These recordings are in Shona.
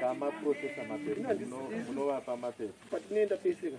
Kama process mapepa, munovapa mapepa. Patinoenda peseka.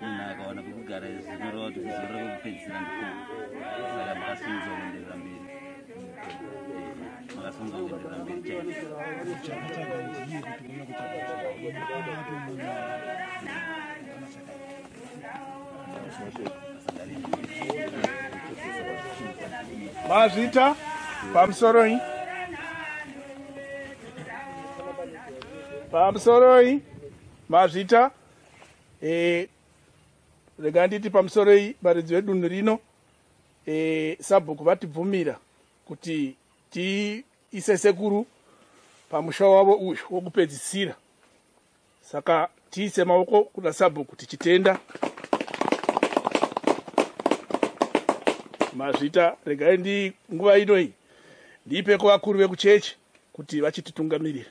munhu akawana kwekugara zvinoreva kuti kuzorora kwekupedzisira ndiko saka makasunza kuenderera mberi makasunza kuenderera mberi mazvita pamusoroi pamusoroi Mazvita eh, rega nditi pamusoro iyi varidzi vedunhu rino eh, sabhuku vatibvumira kuti tiise sekuru pamusha wavo uyu wokupedzisira saka tiise maoko kuna sabhuku tichitenda mazvita regai ndi nguva ino iyi ndiipe kuvakuru vekuchechi kuti vachititungamirira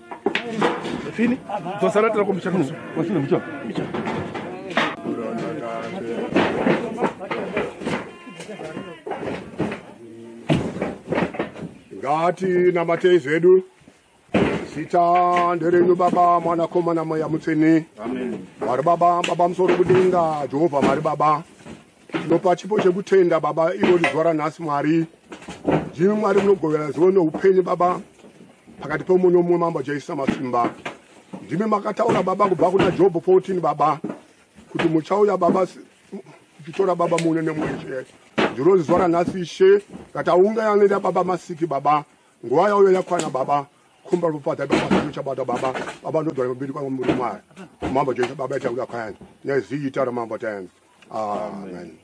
Fini, dzosara tira kwa mchana mchana. Kwa shina mchana. Mchana. Ngati na matei zedu. Sita nderenyu baba mwana koma na moya mutsini. Amen. Mari baba, baba msoro kudinga, Jehova mari baba. Tinopa chipo chekutenda baba ivo lizuva ranhasi mwari ndimi mwari munogovera zivo neupenyu baba pakati pemumwe nomumwe mambo jaisa masimba ndimi makataura baba kubva kuna jobho 14 baba kuti muchauya baba kutora baba mune nemweshe ndiro zuva ranhasi ishe kataunga yanoenda baba masiki baba nguva yauyo yakwana baba kumba rupata baaachabata baba baba ndodwara mbiri kwamuri mwari mambo jaisa baba yataura kwayani neziita ramambo tayanzi amen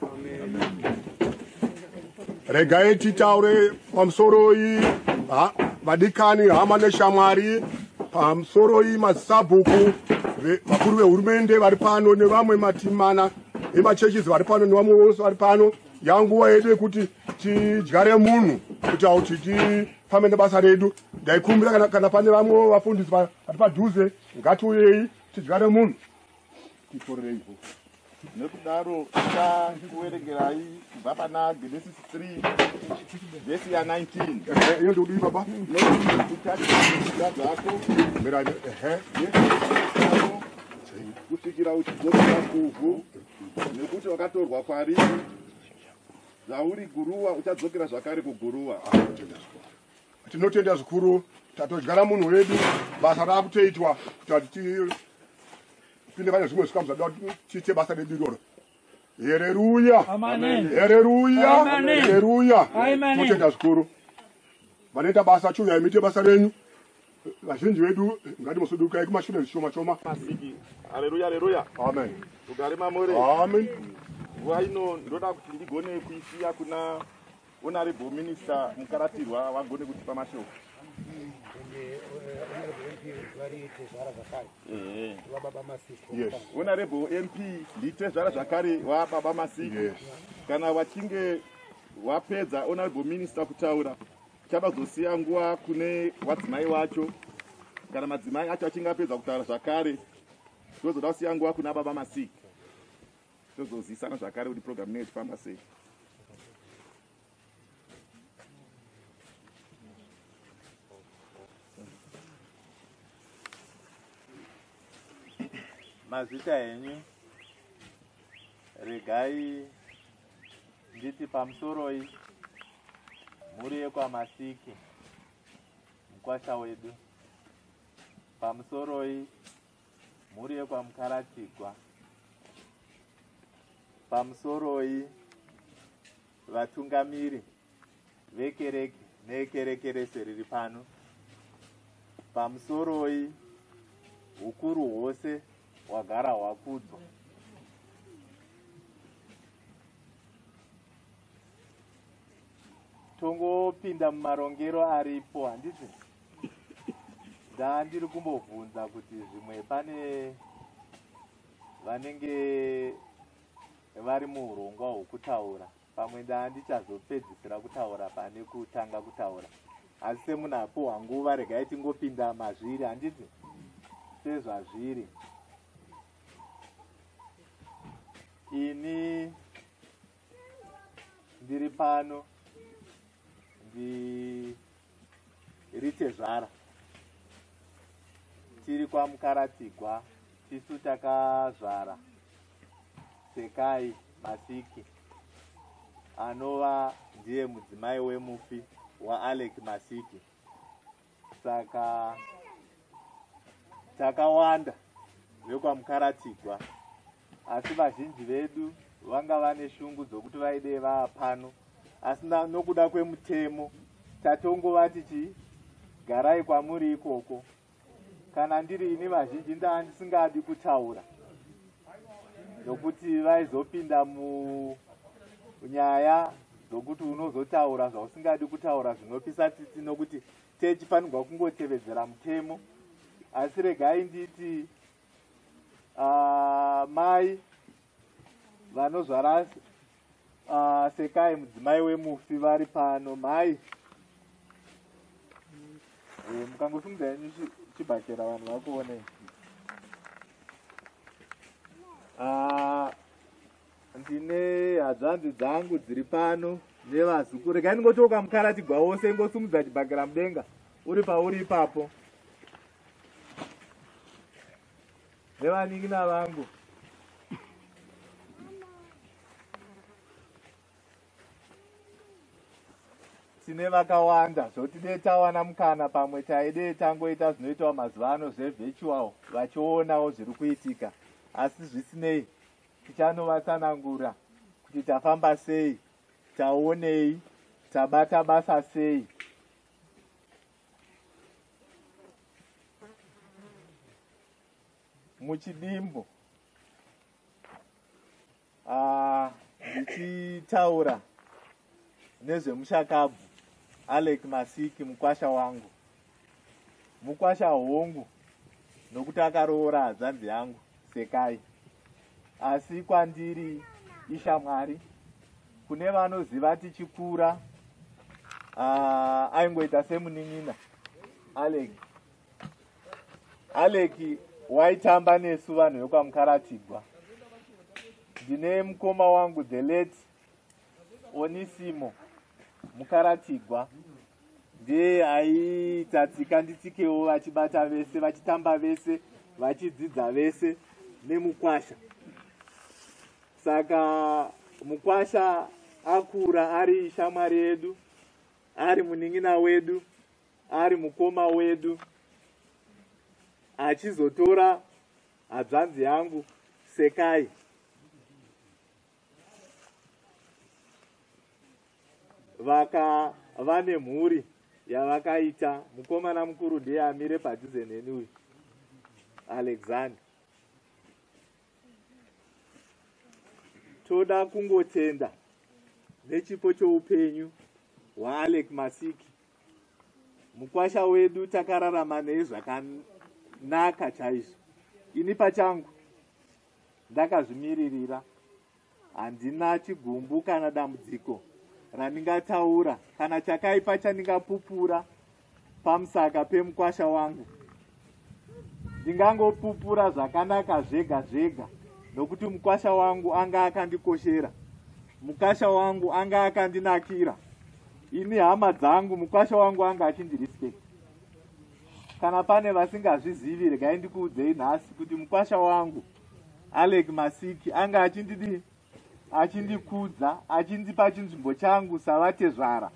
regai titaure pamusoroi vadikani hama neshamwari pamusoroi masabhuku vakuru vehurumende vari pano nevamwe matimana emachurches vari pano nevamwe vose vari pano yanguva yedu yekuti tidyare munhu kuti auti tifambe nebasa redu ndaikumbira kana pane vamwe vafundisi vari padhuze ngatiuyei tidyare munhu tiporereivo nekudaro ta kuverengerai kubva pana genesis 3 vhesi ya 19 iyo ndikudii baba nekuita dzako mirai ehe kusvikira uchidzokera kuvhu nekuti wakatorwa kwariri zvauri guruwa uchadzokera zvakare kuguruwa tinotenda zvikuru tatodyara munhu wedu basa raakutoitwa kuti tipinde pane zvimwe zvikamu zvadoa tiite basa redu iroro hereruya hereruya hereruya tinotenda zvikuru vanoita basa chiuyai muite basa renyu vazhinji vedu ngati musudukai kumashure zvishoma shoma aleluya aleluya amen ugare mamore amen nguva ino ndoda kuti ndigone kuisiya kuna Honorable Minister Mukaratirwa vagone kutipa mashoko. Honorable MP nditezvara zvakare wababa Masiki. Kana wachinge wapedza Honorable Minister kutaura chabazosiya nguva kune wadzimai wacho kana madzimai acho achinge apedza kutaura zvakare tozoda kusiya nguva kuna baba Masiki. tozozivisana zvakare kuti program inenge ichifamba sei mazita enyu regai nditi pamusoroi mhuri yekwamasiki mukwasha wedu pamusoroi mhuri yekwaMukaratigwa pamusoroi vatungamiri vekereke nekereke rese riri pano pamusoroi ukuru hwose hwagara hwakudzwa tongopinda mumarongero aripo handiti ndaa ndiri kumbobvunza kuti zvimwe pane vanenge vari muurongwa hwokutaura pamwe ndaa ndichazopedzisira kutaura pane kutanga kutaura asi semunhu apuhwa nguva regai tingopinda mazviri handiti sezvazviri ini ndiri pano ndi iri tezvara tiri kwamukaratigwa tisu takazvara sekai masiki anova ndiye mudzimai wemufi waalec masiki saka takawanda vekwamukaratigwa asi vazhinji vedu vanga vane shungu dzokuti vaidei vava pano asi nokuda kwemutemo tatongovati chii garai kwamuri ikoko kana ndiri ini vazhinji ndaa ndisingadi kutaura nokuti vaizopinda munyaya dzokuti unozotaura zvausingadi kutaura zvinopisa tsitsi nokuti techifanirwa kungotevedzera mutemo asi regai nditi uh, mai vanozvara uh, sekai mudzimai wemufi vari pano mai e, eh, mukangosimudza yenyu chibhakera vanhu vakuonei uh, ndine hadzvanzi dzangu dziri pano nevazuku regai ndingochoka mukara chigwa wose ingosumudza chibhakera mudenga uri pauri ipapo nevanin'ina vangu tine vakawanda zvoti dee tawana mukana pamwe taidee tangoita zvinoitawo mazuva ano zvevirtual vachionawo zviri kuitika asi zvisinei tichanovatsanangura kuti tafamba sei taonei tabata basa sei muchidimbu ah, ndichitaura uh, nezvemushakabvu alec masiki mukwasha wangu mukwasha hongu nokuti akaroora hadzanzi yangu Sekai. Asi kwandiri ishamwari kune vanoziva tichikura uh, aingoita semunin'ina alek alek waitamba nesu vanhu vekwamukaratigwa ndine mukoma wangu the late Onisimo Mukaratigwa ndiye aiita tsika nditsikewo vachibata vese vachitamba vese vachidzidza vese nemukwasha saka mukwasha akura ari shamwari yedu ari munin'ina wedu ari mukoma wedu achizotora hadzvanzi yangu sekai vaka vane mhuri yavakaita mukomana mukuru ndiye amire padhuze neni uyu alexander toda kungotenda nechipo choupenyu hwaalek masiki mukwasha wedu takararama nei zvakanaka chaizvo ini pachangu Ndakazvimiririra. Handina chigumbu kana dambudziko randingataura kana chakaipa chandingapupura pamusaka pemukwasha wangu. Ndingangopupura zvakanaka zvega zvega nokuti mukwasha wangu anga akandikoshera. Mukasha wangu anga akandinakira. Ini hama dzangu mukwasha wangu anga achindirispect. Kana pane vasingazvizivi regai ndikuudzei nhasi kuti mukwasha wangu Alec Masiki anga achindidi achindikudza achindipa chinzvimbo changu savatezvara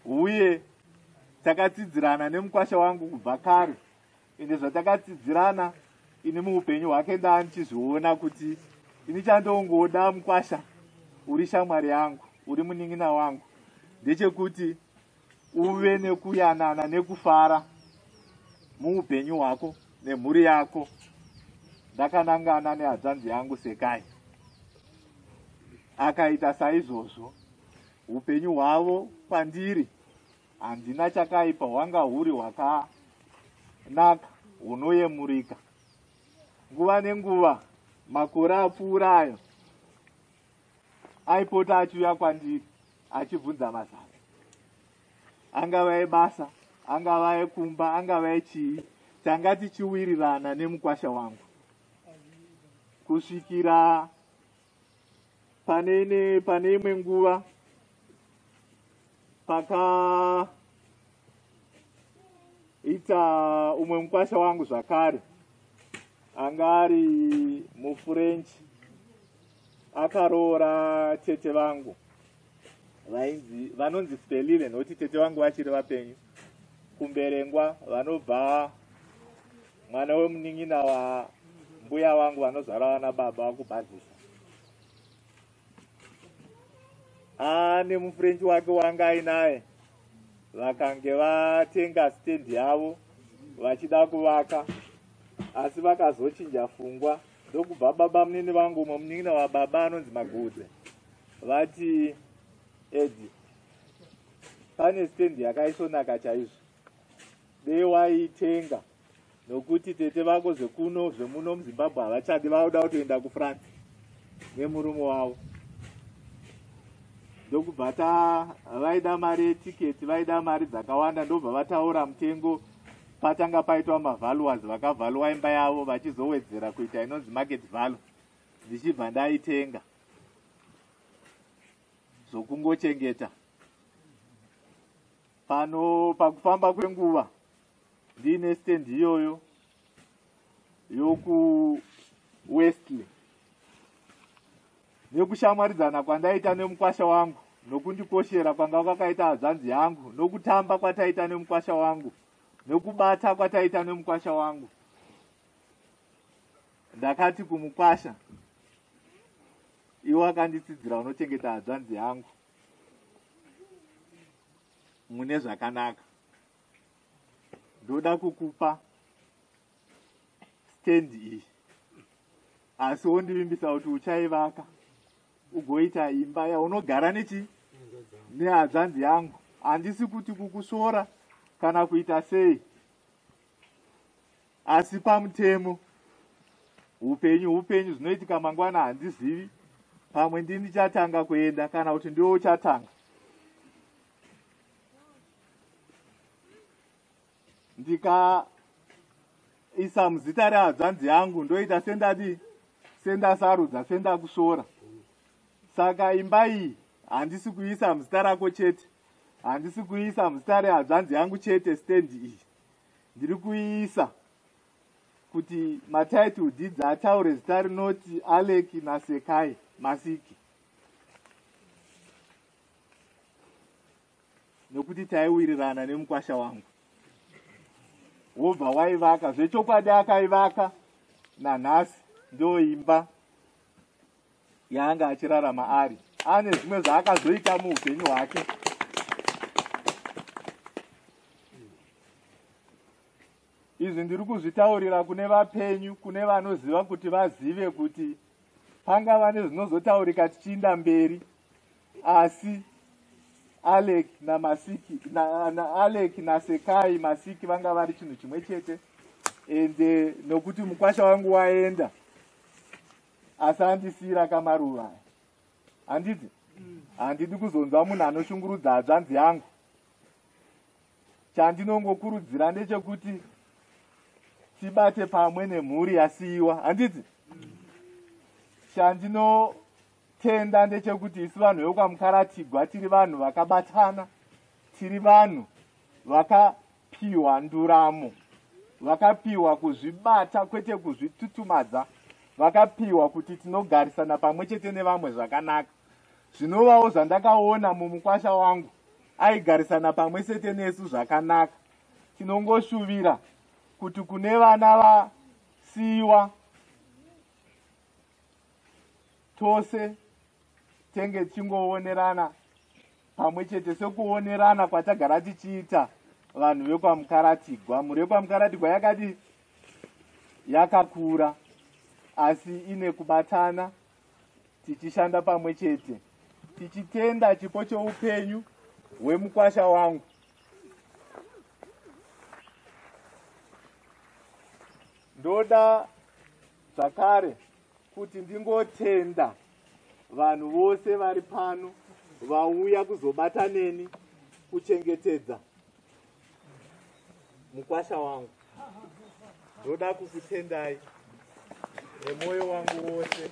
uye takatsidzirana nemukwasha wangu kubva kare ende zvatakatsidzirana ini muupenyu hwake ndaa ndichizviona kuti ini chandongoda mukwasha uri shamwari yangu uri munin'ina wangu ndechekuti uve nekuyanana nekufara muupenyu hwako nemhuri yako ndakanangana nehadzanzi yangu sekai akaita saizvozvo upenyu hwavo pandiri handina chakaipa hwanga huri hwakanaka hunoyemurika nguva nenguva makore apfuurayo aipota achiuya kwandiri achibvunza mazano angava ebasa angava ekumba angava echii tanga tichiwirirana nemukwasha wangu kusvikira pane ine pane imwe nguva paka ita umwe mukwasha wangu zvakare anga ari mufrench akaroora tete vangu vainzi vanonzi spelile nokuti tete vangu vachiri vapenyu kumberengwa vanobva mwana wemunin'ina wambuya wangu vanozvara vana baba vakubhadhisa haa nemufrench wake wanga ainaye vakange vatenga stendi yavo vachida kuvaka asi vakazochinja fungwa ndokubva baba munini vangu umwe munin'ina wababa anonzi magudze vati edi pane stendi yakaisonaka chaizvo dei waitenga nokuti tete vako zvekuno zvemuno muzimbabwe havachadi vauda kutoenda kufrance nemurume wavo ndokubva ta vaida mari yetiketi vaida mari dzakawanda ndobva vataura mutengo patanga paitwa mavaluers vakavhaluwa imba yavo vachizowedzera kuita inonzi market valu ndichibva ndaitenga zvokungochengeta pano pakufamba kwenguva ndiine stand iyoyo yokuwestley nekushamwaridzana kwandaita nemukwasha wangu nokundikoshera kwanga kwakaita hadzvanzi yangu nokutamba kwataita nemukwasha wangu nokubata kwataita nemukwasha wangu ndakati kumukwasha iwo akanditsidzira unochengeta hadzvanzi yangu mune zvakanaka ndoda kukupa stand iyi asi wondivimbisa kuti uchaivaka ugoita imba yaunogara nechi nehadzvanzi yangu handisi kuti kukusvora kana kuita sei asi pamutemo upenyu upenyu zvinoitika mangwana handizivi pamwe ndini chatanga kuenda kana kuti ndiwo uchatanga ndikaisa muzita rehadzvanzi yangu ndoita sendadii sendasarudza sendakusvora saka imba iyi handisi kuisa muzita rako chete handisi kuisa muzita rehadzvanzi yangu chete stendi iyi ndiri kuiisa kuti matitle deeds ataure zita rinoti alec nasekai masiki nokuti taiwirirana nemukwasha wangu wobva waivaka zvechokwadi akaivaka nanhasi ndoimba yaanga achirarama ari ane zvimwe zvaakazoita muupenyu hwake Izvi ndiri kuzvitaurira kune vapenyu, kune vanoziva kuti vazive kuti pangava nezvinozotaurika tichiinda mberi, asi Alec na Masiki na, na Alec na Sekai Masiki vanga vari chinhu chimwe chete and eh, nokuti mukwasha wangu waenda asi andisiyira kamaruva handiti handidi kuzonzwa munhu anoshungurudza hadzvanzi yangu chandinongokurudzira ndechekuti tibate pamwe nemhuri yasiyiwa handiti chandinotenda ndechekuti isu vanhu vekwamukaratigwa tiri vanhu vakabatana tiri vanhu vakapiwa nduramo vakapiwa kuzvibata kwete kuzvitutumadza vakapiwa kuti tinogarisana pamwe chete nevamwe zvakanaka zvinovawo zvandakaona mumukwasha wangu aigarisana pamwe sete nesu zvakanaka tinongoshuvira kuti kune vana vasiyiwa tose tenge tichingoonerana pamwe chete sekuonerana kwatagara tichiita vanhu vekwamukaratigwa mhuri yekwamukaratigwa yakadii yakakura asi ine kubatana tichishanda pamwe chete tichitenda chipo choupenyu hwemukwasha wangu ndoda zvakare kuti ndingotenda vanhu vose vari pano vauya kuzobata neni kuchengetedza mukwasha wangu ndoda kukutendai nemwoyo wangu wose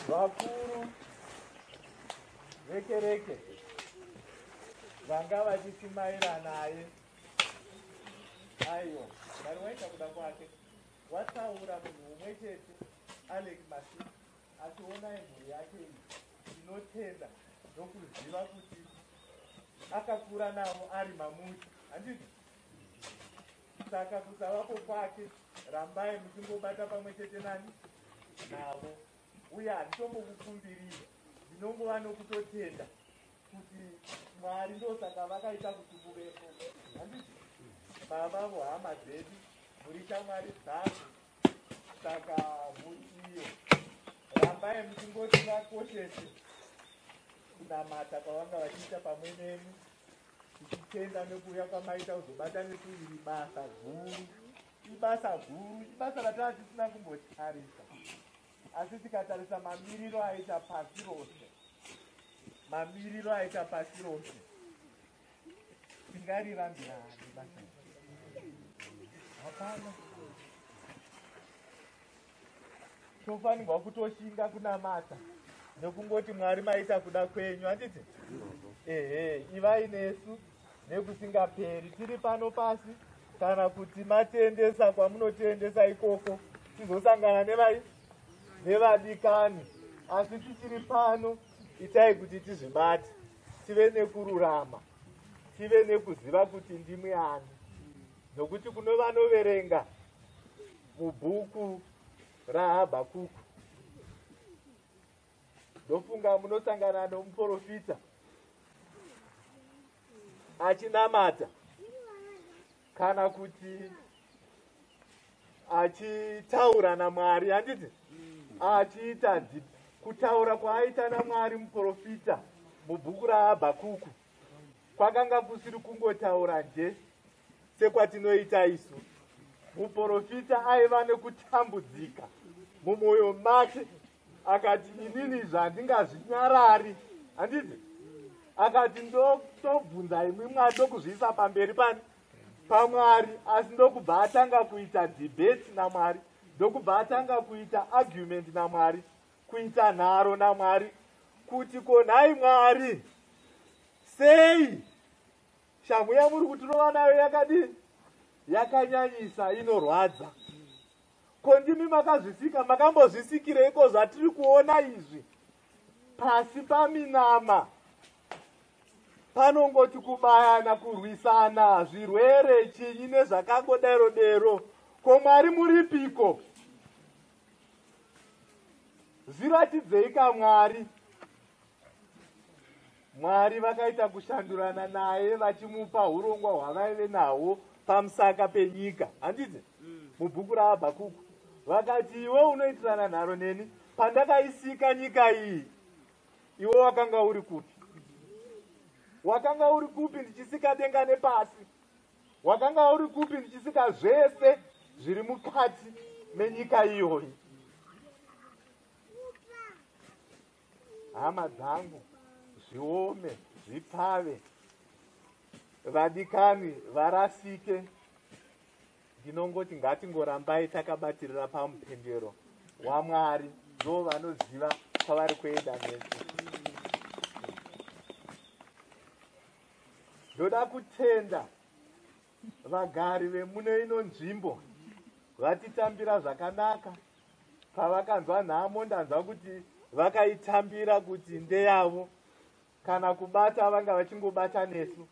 vakuru vekereke vanga vachisimaira naye aiwa vari waita kuda kwake wataura munhu umwe chete alex masi Asi onai mhuri yake iyi inotenda ndokuziva kuti akakura navo ari mamuti handiti saka kusavapo kwake rambai muchingobata pamwe chete nani navo uye handitombokukumbirira ndinongova nokutotenda kuti mwari ndosaka vakaita kuti muvepo handiti baba vohama dzedu muri shamwari dzavo saka muiyo rambai muchingoti vakoshese kunamata kwavanga vachiita pamwe nemi tichitenda nekuuya kwamaita kuzobata nekuiri basa guru ibasa guru ibasa rataa tisina kumbotarisa asi tikatarisa mamiriro aita pasi rose mamiriro aita pasi rose tofanirwa kutoshinga kunamata nekungoti mwari maita kuda kwenyu handiti ehe ivai nesu nekusingaperi tiri pano pasi kana kuti matiendesa kwamunotiendesa ikoko tizosangana nevai nevadikani asi tichiri pano itai kuti tizvibate tive nekururama tive nekuziva kuti ndimwe ani nokuti kuno vanoverenga mubhuku rahabhakuku ndofunga munosangana nomuprofita achinamata kana kuti achitaura namwari handiti achiita kutaura kwaaita namwari muprofita mubhuku rahabhakuku kwakanga kusiri kungotaura nje sekwatinoita isu muprofita aiva nekutambudzika mumwoyo make akati inini zvandingazvinyarari handiti akati ndotobvunza imwi mwari ndokuzviisa pamberi pani pamwari asi ndokubva atanga kuita debate namwari ndokubva atanga kuita argument namwari kuita nharo namwari kuti konhai mwari sei shamhu yamuri kutirova nayo yakadini yakanyanyisa inorwadza Ko ndimi makazvisika, makambozvisikireiko zvatiri kuona izvi? Pasi paminama panongoti kubayana, kurwisana, zvirwere, chinyi nezvakangodero dero. Ko Mwari muripiko? Zviratidzei kaMwari. mwari vakaita kushandurana naye vachimupa urongwa hwavaive nahwo pamusaka penyika handiti mm. mubhuku rahabhakuku vakati iwe unoitirana nharo neni pandakaisika nyika iyi iwe wakanga uri kupi wakanga uri kupi ndichisika denga nepasi wakanga uri kupi ndichisika zvese zviri mukati menyika iyoyi hama dzangu zviome zvipfave vadikani varasike ndinongoti ngatingorambai takabatirira pamupendero wamwari ndo vanoziva kwavari kuenda nesu ndoda kutenda Vagari vemune ino nzvimbo vatitambira zvakanaka pavakanzwa nhamo ndanzwa kuti vakaitambira kuti ndeyavo kana kubata vanga vachingobata nesu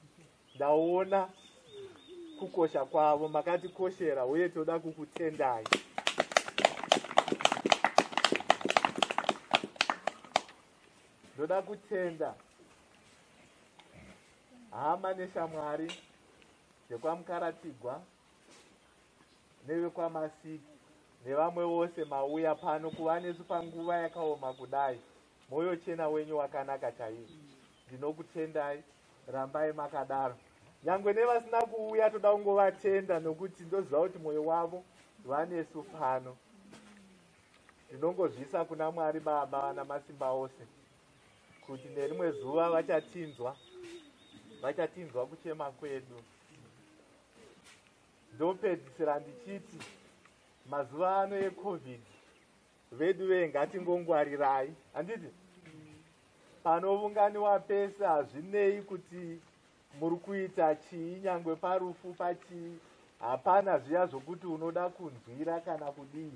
ndaona kukosha kwavo makatikoshera uye toda kukutendai ndoda kutenda Hama neshamwari dzekwaMukaratigwa nevekwaMasiki nevamwe vose mauya pano kuva nesu panguva yakaoma kudai, mwoyo chena wenyu wakanaka chaizvo. Ndinokutendai, rambai makadaro. Nyangwe nevasina kuuya toda kungovatenda nokuti ndoziva kuti mwoyo wavo vanesu pano. Ndinongozvisa kuna Mwari Baba vana masimba ose. kuti nerimwe zuva vachatinzwa vachatinzwa kuchema kwedu ndopedzisira ndichiti mazuva ano ecovid vedu vee ngatingongwarirai handiti panovunganiwa pese hazvinei kuti muri kuita chii nyangwe parufu pachii hapana zviya zvokuti unoda kunzwira kana kudii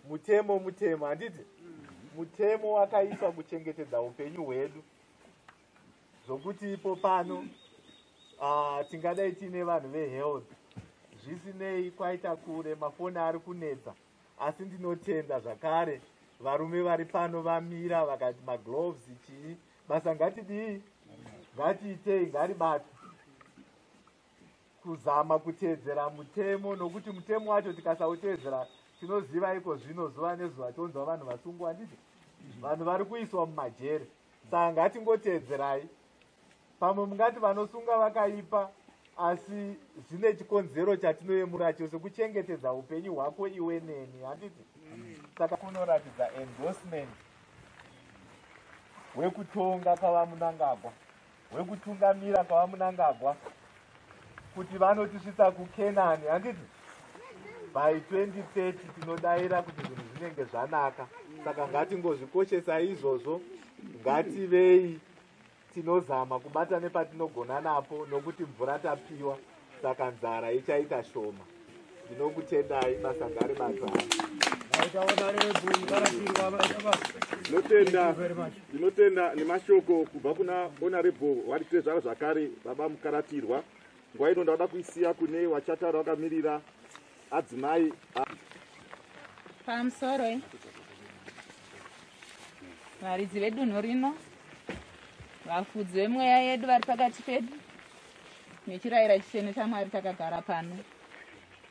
mutemo mutemo handiti mutemo wakaiswa kuchengetedza upenyu hwedu zvokuti ipo pano uh, tingadai tiine vanhu vehealth zvisinei kwaita kure mafoni ari kunetsa asi ndinotenda zvakare varume vari pano vamira vakati magloves chii basa ngatidii ngatiitei ngaribatwe kuzama kuteedzera mutemo nokuti mutemo wacho tikasauteedzera tinoziva iko zvino zuva nezuva tonzwa vanhu vasungwa handiti vanhu vari kuiswa mumajeri saka ngatingoteedzerai pamwe mungati vanosunga vakaipa asi zvine chikonzero chatinoyemura chose kuchengetedza upenyu hwako iwe neni handiti saka kunoratidza endorsement wekutonga kwavamunangagwa wekutungamira kwavamunangagwa kuti vanotisvitsa kukenani handiti by 2030 tinodaira kuti zvinhu zvinenge zvanaka saka ngatingozvikoshesa izvozvo ngativei tinozama kubata nepatinogona napo nokuti mvura tapiwa saka nzara ichaita shoma ndinokutendai basa ngari basa ndinotenda nemashoko kubva kuna onarebo wari tezvara zvakare baba mukaratirwa nguva ino ndauda kuisiya kune wachataura wakamirira adzimai pamusoro eh? varidzi vedunhu rino vafudzi vemweya yedu vari pakati pedu nechirayira chisene chamwari takagara pano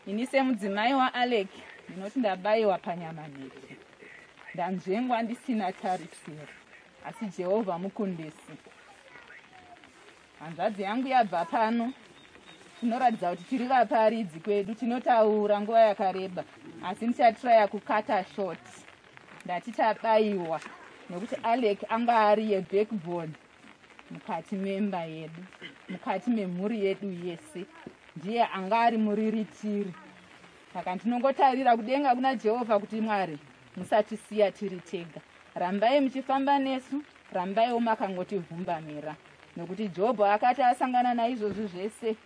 ini semudzimai waalec ndinoti ndabayiwa panyama nhete ndanzvengwa ndisina tarisiro asi jehovha mukundisi hanzvadzi yangu yabva pano tinoratidza kuti tiri vaparidzi kwedu tinotaura nguva yakareba asi ndichatiraya kukata short ndati tabayiwa nekuti alec anga ari yebackbone mukati memba yedu mukati memhuri yedu yese ndiye anga ari muriritiri saka ndinongotarira kudenga kuna jehovha kuti mwari musatisiya tiri tega rambai muchifamba nesu rambaiwo makangotivhumbamira nokuti jobho akati asangana naizvozvi zvese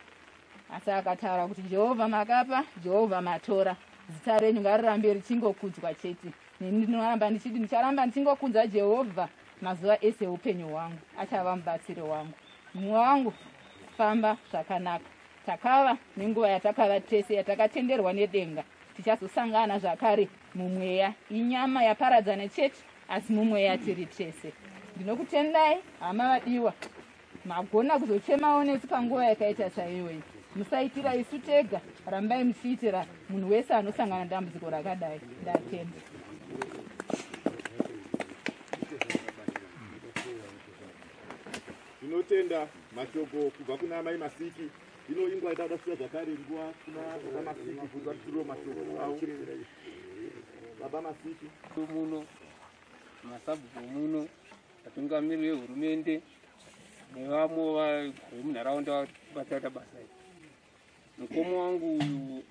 asi akataura kuti jehovha makapa jehovha matora zita renyu ngarirambe richingokudzwa chete neni ndinoramba ndichiti ndicharamba ndichingokunza jehovha mazuva ese eupenyu hwangu achava mubatsiri wangu mumwe wangu famba zvakanaka takava nenguva yatakava tese yatakatenderwa nedenga tichazosangana zvakare mumweya inyama yaparadzana chete asi mumweya tiri tese ndinokutendai hama vadiwa magona kuzochemawo nesu panguva yakaita chaiyoyi musaitira isu tega rambai muchiitira munhu wese anosangana dambudziko rakadai ndatenda tinotenda mashoko kubva kuna amai masiki ino ingwa itauda kusiya zvakare nguva kuna baba masiki kuti vatitiriro mashoko avo baba masiki muno masabhuku muno Vatungamiri vehurumende nevamwe vemunharaunda vakaita basa iri. Mukoma wangu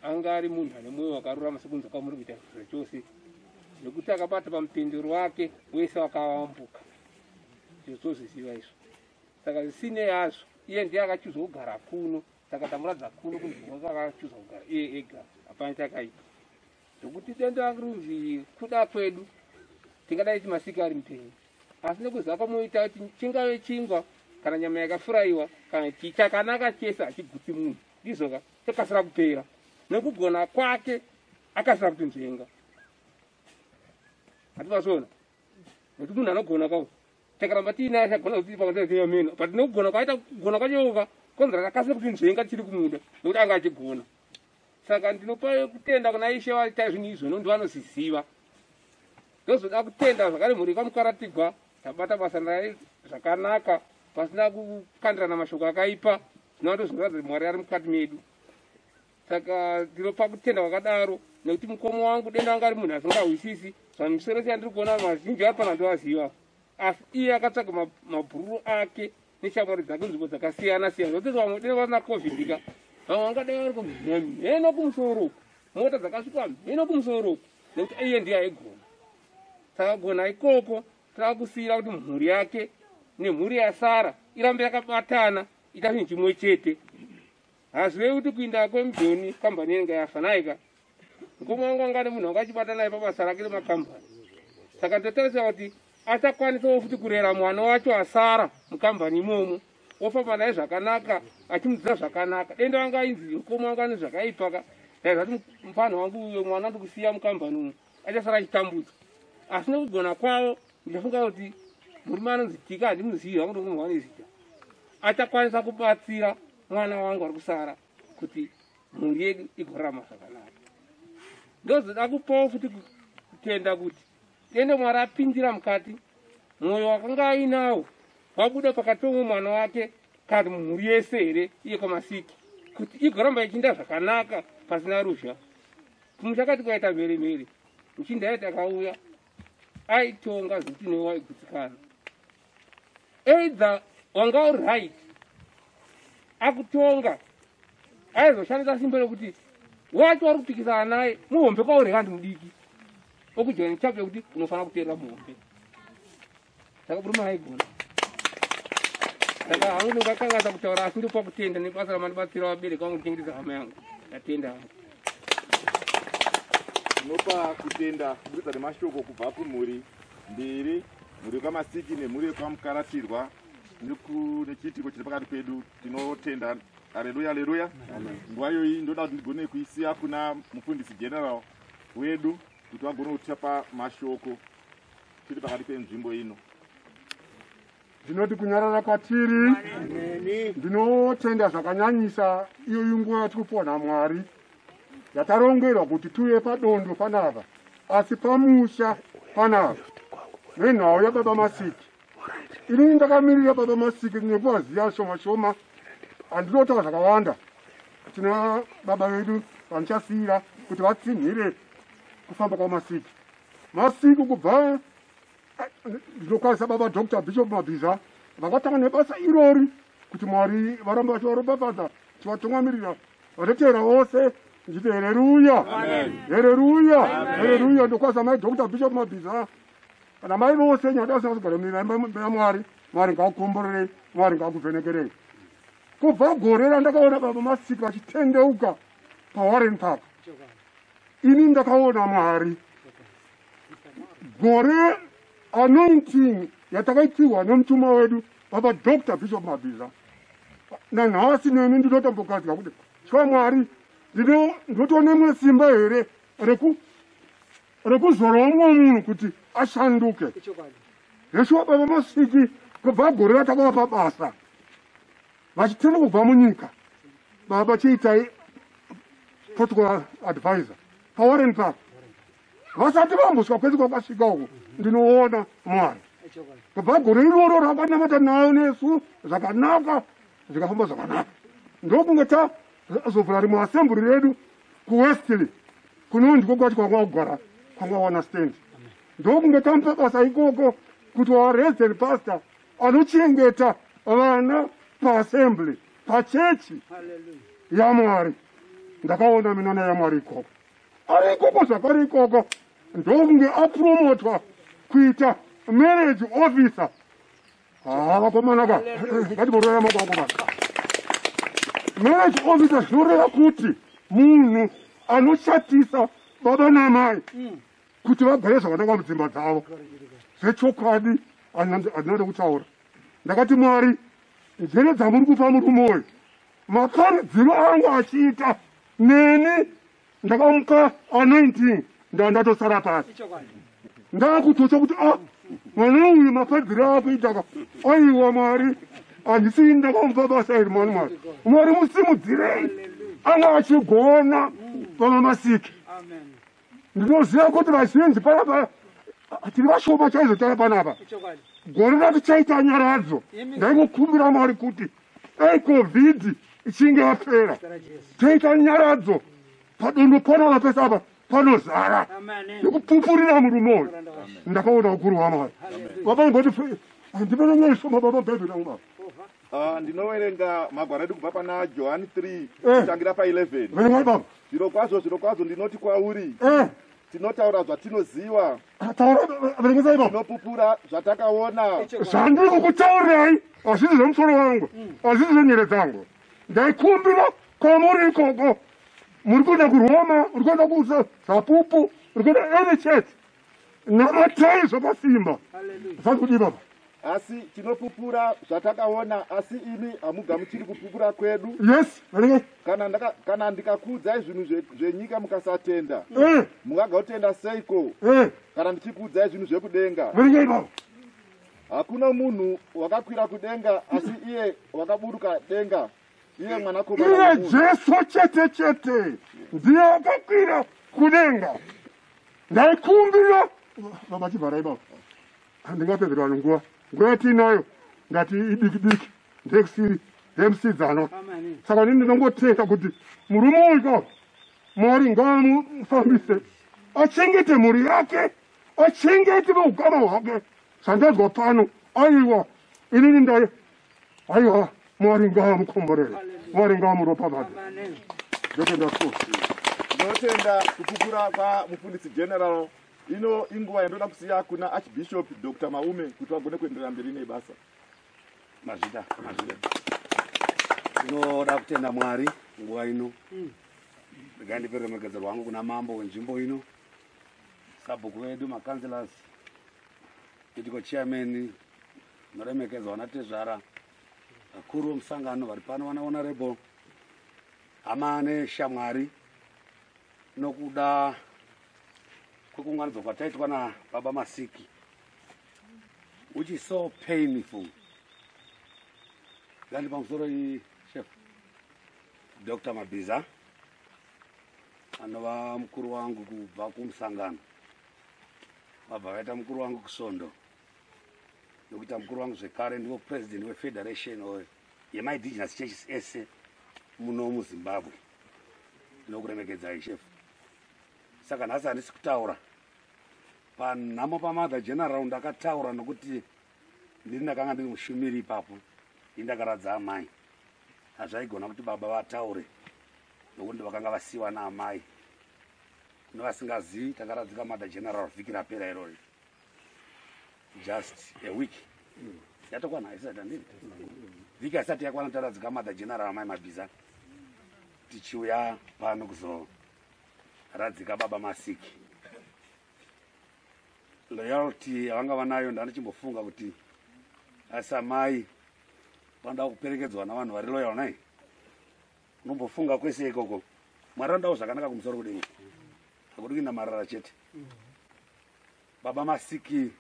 anga ari munhu ane mwoyo wakarurama sekunze kwamuri kuita zviro chose nekuti akabata pamupendero wake wese wakavambuka izvo tozviziva izvo saka zvisinei azvo iye ndiye akachuza kugara kuno saka tamuradza kuno kunzvimbo akachuza kugara iye ega hapana chakaipa Nokuti denda rangu runzi kuda kwedu, tingadai timasika ari mupenyu, asi nekuziva kwamoita kuti chingave chingwa kana nyama yakafuraiwa kana chii chakanaka chese hachigutsi munhu ndizoka chakasira kupera nokugona kwake akasira kutinzvenga hativasona nekuti munhu anogona kwavo takaramba tiinaye achagona kuti pakateeameno but nokugona kwaita kugona kwachoka konzera takasira kutinzvenga tiri kumuda nekuti anga achigona saka ndinopa kutenda kuna ishe vaita zvinhu izvo nondi vanosiziva ndozoda kutenda zvakare mhuri yekwamukwaratigwa tabata basa naye zvakanaka pasina kukandirana mashoko akaipa zvinova ndozvinoratidza kuti mwari ari mukati medu saka ndinopa kutenda kwakadaro nekuti mukomo wangu denda wanga ari munhu asingahwisisi zvamisoro siyandiri kuona mazhinji ari pana ndovaziva asi iye akatsvaga mabhururu ake neshamwari dzake nzvimbo dzakasiyana siyana zvototi vamwe dai vana covid ka vamwe vangadai vari kumheno kumusoro uku mota dzakasvika mheno kumusoro uku nekuti iye ndiye aigona takagona ikoko taakusiyira kuti mhuri yake nemhuri yasara irambe yakabatana ita chinhu chimwe chete hazvirevi kuti kuinda kwemujoni kambani yenga yafa naika mukoma wangu anga ane munhu anga achibata naye pabasa rake remakambani saka ndotarisira kuti achakwanisawo futi kurera mwana wacho asara mukambani imomo ofamba naye zvakanaka achimudzidza zvakanaka denda wanga ainzi mukoma wangu ane zvakaipaka daizvati mupfanha wangu uyo mwana ndikusiya mukambani umo achasara achitambudzwa asi nekugona kwavo ndichafunga kuti murume anonzi tika handimuzivi hangu ndokumwana izita achakwanisa kubatsira mwana wangu ari kusara kuti mhuri yedu igorama zvakanaka ndozoda kupawo futi kutenda kuti tende mwari apindira mukati mwoyo wakanga ainawo wabuda pakati pomwe mwana wake kana mhuri yese here iye kwamasiki kuti igoramba ichinda zvakanaka pasina ruzha kumusha kati kwaita mhere mhere muchinda yati akauya aitonga zitinowa igutsikana either wanga uri right akutonga aizoshandisa simbo rekuti wacho wari kupikisana naye muhombe kwauri kandi mudiki okujoina chapter kuti unofanira kuteerera muhombe saka murume aigona saka hangu ndingakangaza kutaura asi ndopa kutenda nebasa ramandibatsira vabereki vangu kuchengetedza hama yangu ndatenda hangu tinopa kutenda kuburikidza nemashoko kubva kumhuri mbiri mhuri yekwamasiki nemhuri yekwamukaratirwa nechiitiko chiri pakati pedu tinotenda aleluya aleluya nguva iyoyi ndoda kuti ndigone kuisiya kuna mufundisi general wedu kuti vagone kutichapa mashoko tiri pakati penzvimbo ino ndinoti kunyarara kwatiri ndinotenda zvakanyanyisa iyoyi nguva yatiri kupona mwari Amen. yatarongerwa kuti tuye padondo panapa asi pamusha panapa nenhau yababa masiki inini ndakamirira baba masiki nekuvaziva shoma shoma handinotaura zvakawanda tina baba vedu vandichasiyira kuti vatsinhire kufamba kwamasiki masiki kubva ndinokwanisa baba dr bishop mabhiza vakatanga nebasa irori kuti mwari varamba vachivaropafadza tivatungamirira Vanoteera vose nditi hereruya hereruya hereruya ndokwasa mai dr bishop mabhiza kana mai vose nyadasinasigara mira imba ya mwari mwari ngakukomborerei mwari ngakuvhenekerei kubva gore randakaona baba masiki vachitendeuka pawarren park ini ndakaona mwari gore anointing yatakaipihwa nemutumwa wedu Baba Dr. Bishop Mabhiza, nanhasi neni ndinotombogadzwa kuti tya Mwari ndinotonemwe simba here rekuzorowa mumwe munhu kuti ashanduke. Yeshuwa baba Masiki kubva gore ratakava pabasa vachitenda kubva munyika baba chiitai protocol advisor pawarren park vasati vambuswa kwese kwakasvika uko ndinoona mwari kubva gore iroro rakanamata nayo nesu zvakanaka zvikafamba zvakanaka ndokunge tazovhura rimwe asemburi redu kuwestley kunonzi kokwati kwanga kugara kwanga wana stand ndokunge tamupa basa ikoko kuti warezel pastor anochengeta vana paassembly pachechi yamwari ndakaona minana yamwari ikoko ari ikoko zvakari ikoko ndokunge apromotwa kuita marriage officer haa vakomanaka ngatiboroya moko vakomana marriage officer zvinoreva kuti munhu anoshatisa baba namai mm. kuti vagare zvakananga mudzimba dzavo zvechokwadi handinode kutaura ndakati mwari njere dzamuri kupa murume uyu makari dzino angu achiita neni ndakamuka anointing ndandatosara pasi ndakutotya kuti a ah, mwana uyu mafadziro akuitaka aiwa mwari handisi ndakamva basa iri mani mwari mwari musimudzirei anga achigona pamamasiki ndinoziva kuti vazhinji panapa tiri vashoma chaizvo tava panapa gore ratichaita nyaradzo ndaingokumbira mwari kuti dai covid ichinge yapera toita nyaradzo padondo panapa pese apa panozara nekupupurira murume uyu ndakaona ukuru wamwari vabaimboti handivenenyeisoma baba bhebhi naumava Ah, ndinoverenga magwaro edu kubva pana johani 3 Eh. kutangira pa 11 verengani baba zviro kwazvo zviro kwazvo ndinoti kwauri Eh, tinotaura zvatinoziva taura verengesai baba tinopupura zvatakaona zvandiri kukutaurai hazvisi zvemusoro wangu hazvisi zvenyere dzangu ndaikumbira kwamuri ikoko muri kuenda kuroma uri kuenda kusa zapupu uri kuenda any church Namatai zvakasimba. Zvanzi kudii baba? asi tinopupura zvatakaona asi imi hamugamuchiri kupupura kwedu yes kana, ndaka, kana ndikakuudzai zvinhu zvenyika mukasatenda eh. mungagautenda seiko eh. kana ndichikuudzai zvinhu zvekudenga hakuna munhu wakakwira kudenga asi iye wakaburuka denga iye mwanakomana iye wemunhu. jesu chete chete ndiye akakwira kudenga ndaikumbira baba chivharai baba handingapedzera vanhu nguva nguva yatiinayo ngati idiki diki ndekusiri ndemusidzana saka ndini ndinongotenda kuti murume uyu ka mwari ngaamufambise achengete mhuri yake achengete veukama hwake zvandanzwa pano aiwa inini ndai aiwa mwari ngaamukomborere mwari ngaamuropafadze ndotenda so ndinotenda kupupura kwamufundisi general ino inguva yandoda kusiya kuna archbishop dr maume kuti vagone kuenderera mberi nebasa mazvida mazvida ndinoda kutenda mwari nguva ino regai ndipe ruremekedzo rwangu kuna mambo wenzvimbo ino sabhuku vedu macancelors itiko chairman Muremekedzo wana tezvara vakuru vemusangano vari pano vana honorable hama neshamwari nokuda kwekuunganidzwa kwataitwa nababa masiki which is so painful landi pamusoro iyi chef dr mabhiza anova mukuru wangu kubva kumusangano vabva vaita mukuru wangu kusvondo nokuita mukuru wangu zvekare ndivo president wefederation oyo yemaindigenous churches ese muno muzimbabwe ndinokuremekedzai chef saka nhasi handisi kutaura panhamo pamother general ndakataura nokuti ndiri ndakanga ndiri mushumiri ipapo i ndakaradza amai hazvaigona kuti baba vataure nokuti ndovakanga vasiyiwa naamai kune vasingazivi takaradzika mother general vhiki rapera irori just a week yatokwana isati andiri vhiki asati yakwana taradzika mother general amai mabhiza tichiuya pano kuzoradzika baba masiki loyalty yavanga vanayo ndandichimbofunga kuti asi amai vanoda kuperekedzwa navanhu vari loyal nai unombofunga kwese ikoko mwari andawo zvakanaka kumusoro kudenga akuti kuinda marara chete baba masiki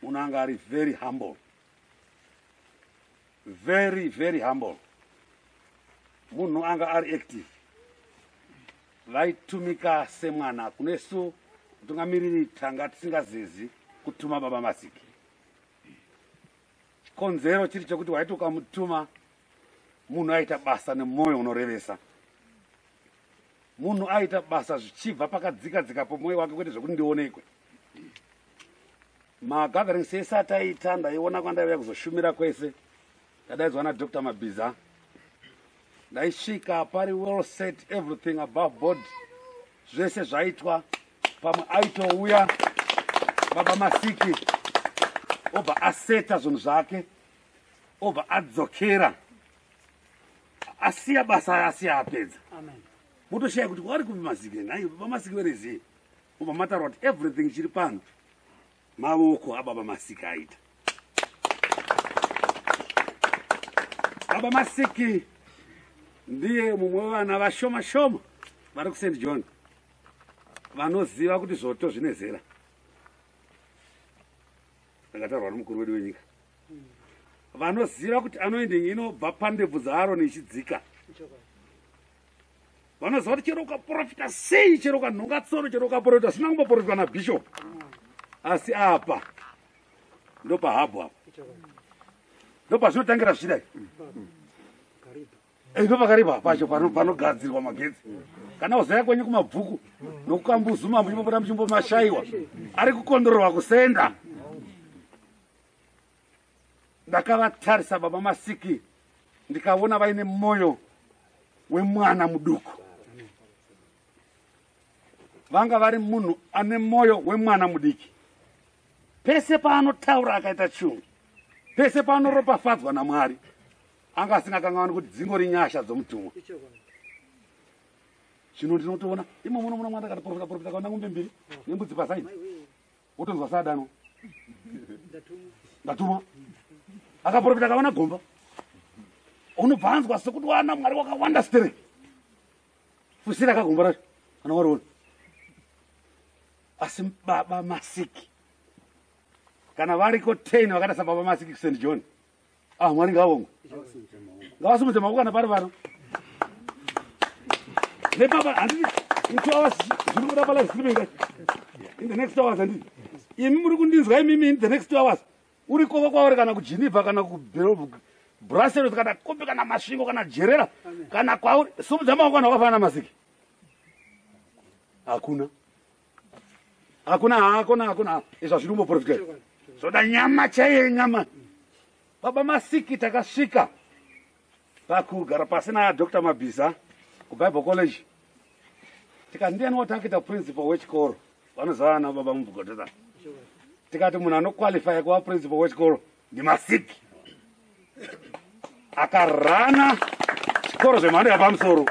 munhu anga ari very humble very very humble munhu anga ari active vaitumika semwana kunesu mutungamiriri tanga tisingazezi kutuma baba masiki chikonzero chiri chekuti waiti ukamutuma munhu aita basa nemwoyo unorevesa munhu aita basa zvichibva pakadzika dzika pomwoyo wake kwete zvekuti ndionekwe magathering sese ataita ndaiona kwandaiuya kuzoshumira kwese ndadaidzwa nadr mabhiza ndaisvika pari well set everything above board zvese zvaitwa pamwe aitouya baba masiki obva aseta zvinhu zvake obva adzokera asiya basa asiya apedza motoshaya kuti kwari kupi mazike nhai vamasike verezii obva mataura kuti everything chiri pano mavoko ababa masike aita baba masiki ndiye mumwe wevana vashoma shoma vari kusaint john vanoziva kuti zvoto zvine zera ndakatarwa nomukuru wedu wenyika vanoziva kuti anoende nyika inobva pandebvu dzaaroni ichidzika vanoziva kuti chero ukaprofita sei chero ukanhonga tsoro chero ukaprofita zvisina kumboprofitwa nabhishopu asi apa ndopahabhu apa ndopazvinotangira zvichidai ndopakaripa pacho panogadzirwa magetsi kana uzaya kwenyu kumabvuku nokukambuzuma muchimbopota muchimbomashaiwa ari kukondororwa kusenda ndakavatarisa baba masiki ndikavona vaine mwoyo wemwana muduku vanga vari munhu ane mwoyo wemwana mudiki pese paanotaura akaita chungu pese paanoropafadzwa namwari anga asingakangavani kuti dzingori nyasha dzomutumwa zvino ndinotoona imomonomono mwanda kati profita profita kaona ngombe mbiri nembudzi pasaini wotonzwa saadanwa ndatumwa akaprofita akawana gomba unobva anzwa sekuti wana mwari wakawanda stere fusira kagomba racho kana wariona asi baba masiki kana variko ten vakaita sababa masiki st john ah mwari ngavongwe ngavasimudze maoko kana pari vano nepapa handiti in two hours zviri kuda palive streaming in the next hours handiti imi muri kundinzwa imimi in the next two hours uri koko kwauri kana kugeneva kana kubrusseles kana kupi kana masvingo kana jerera kana kwauri simudza maoko kana wakafanana masiki hakuna hakuna hakuna hakuna izva zviri kumboprofita zvoda nyama chaiye nyama baba masiki takasvika pakugara pasi nadr mabhiza kubible college tikati ndiyani watakita principal wechikoro vanozava na baba mubhugodota tikati munhu anoqualifya kuva principal wechikoro ndimasiki akarana zvikoro zvemhando yapamusoro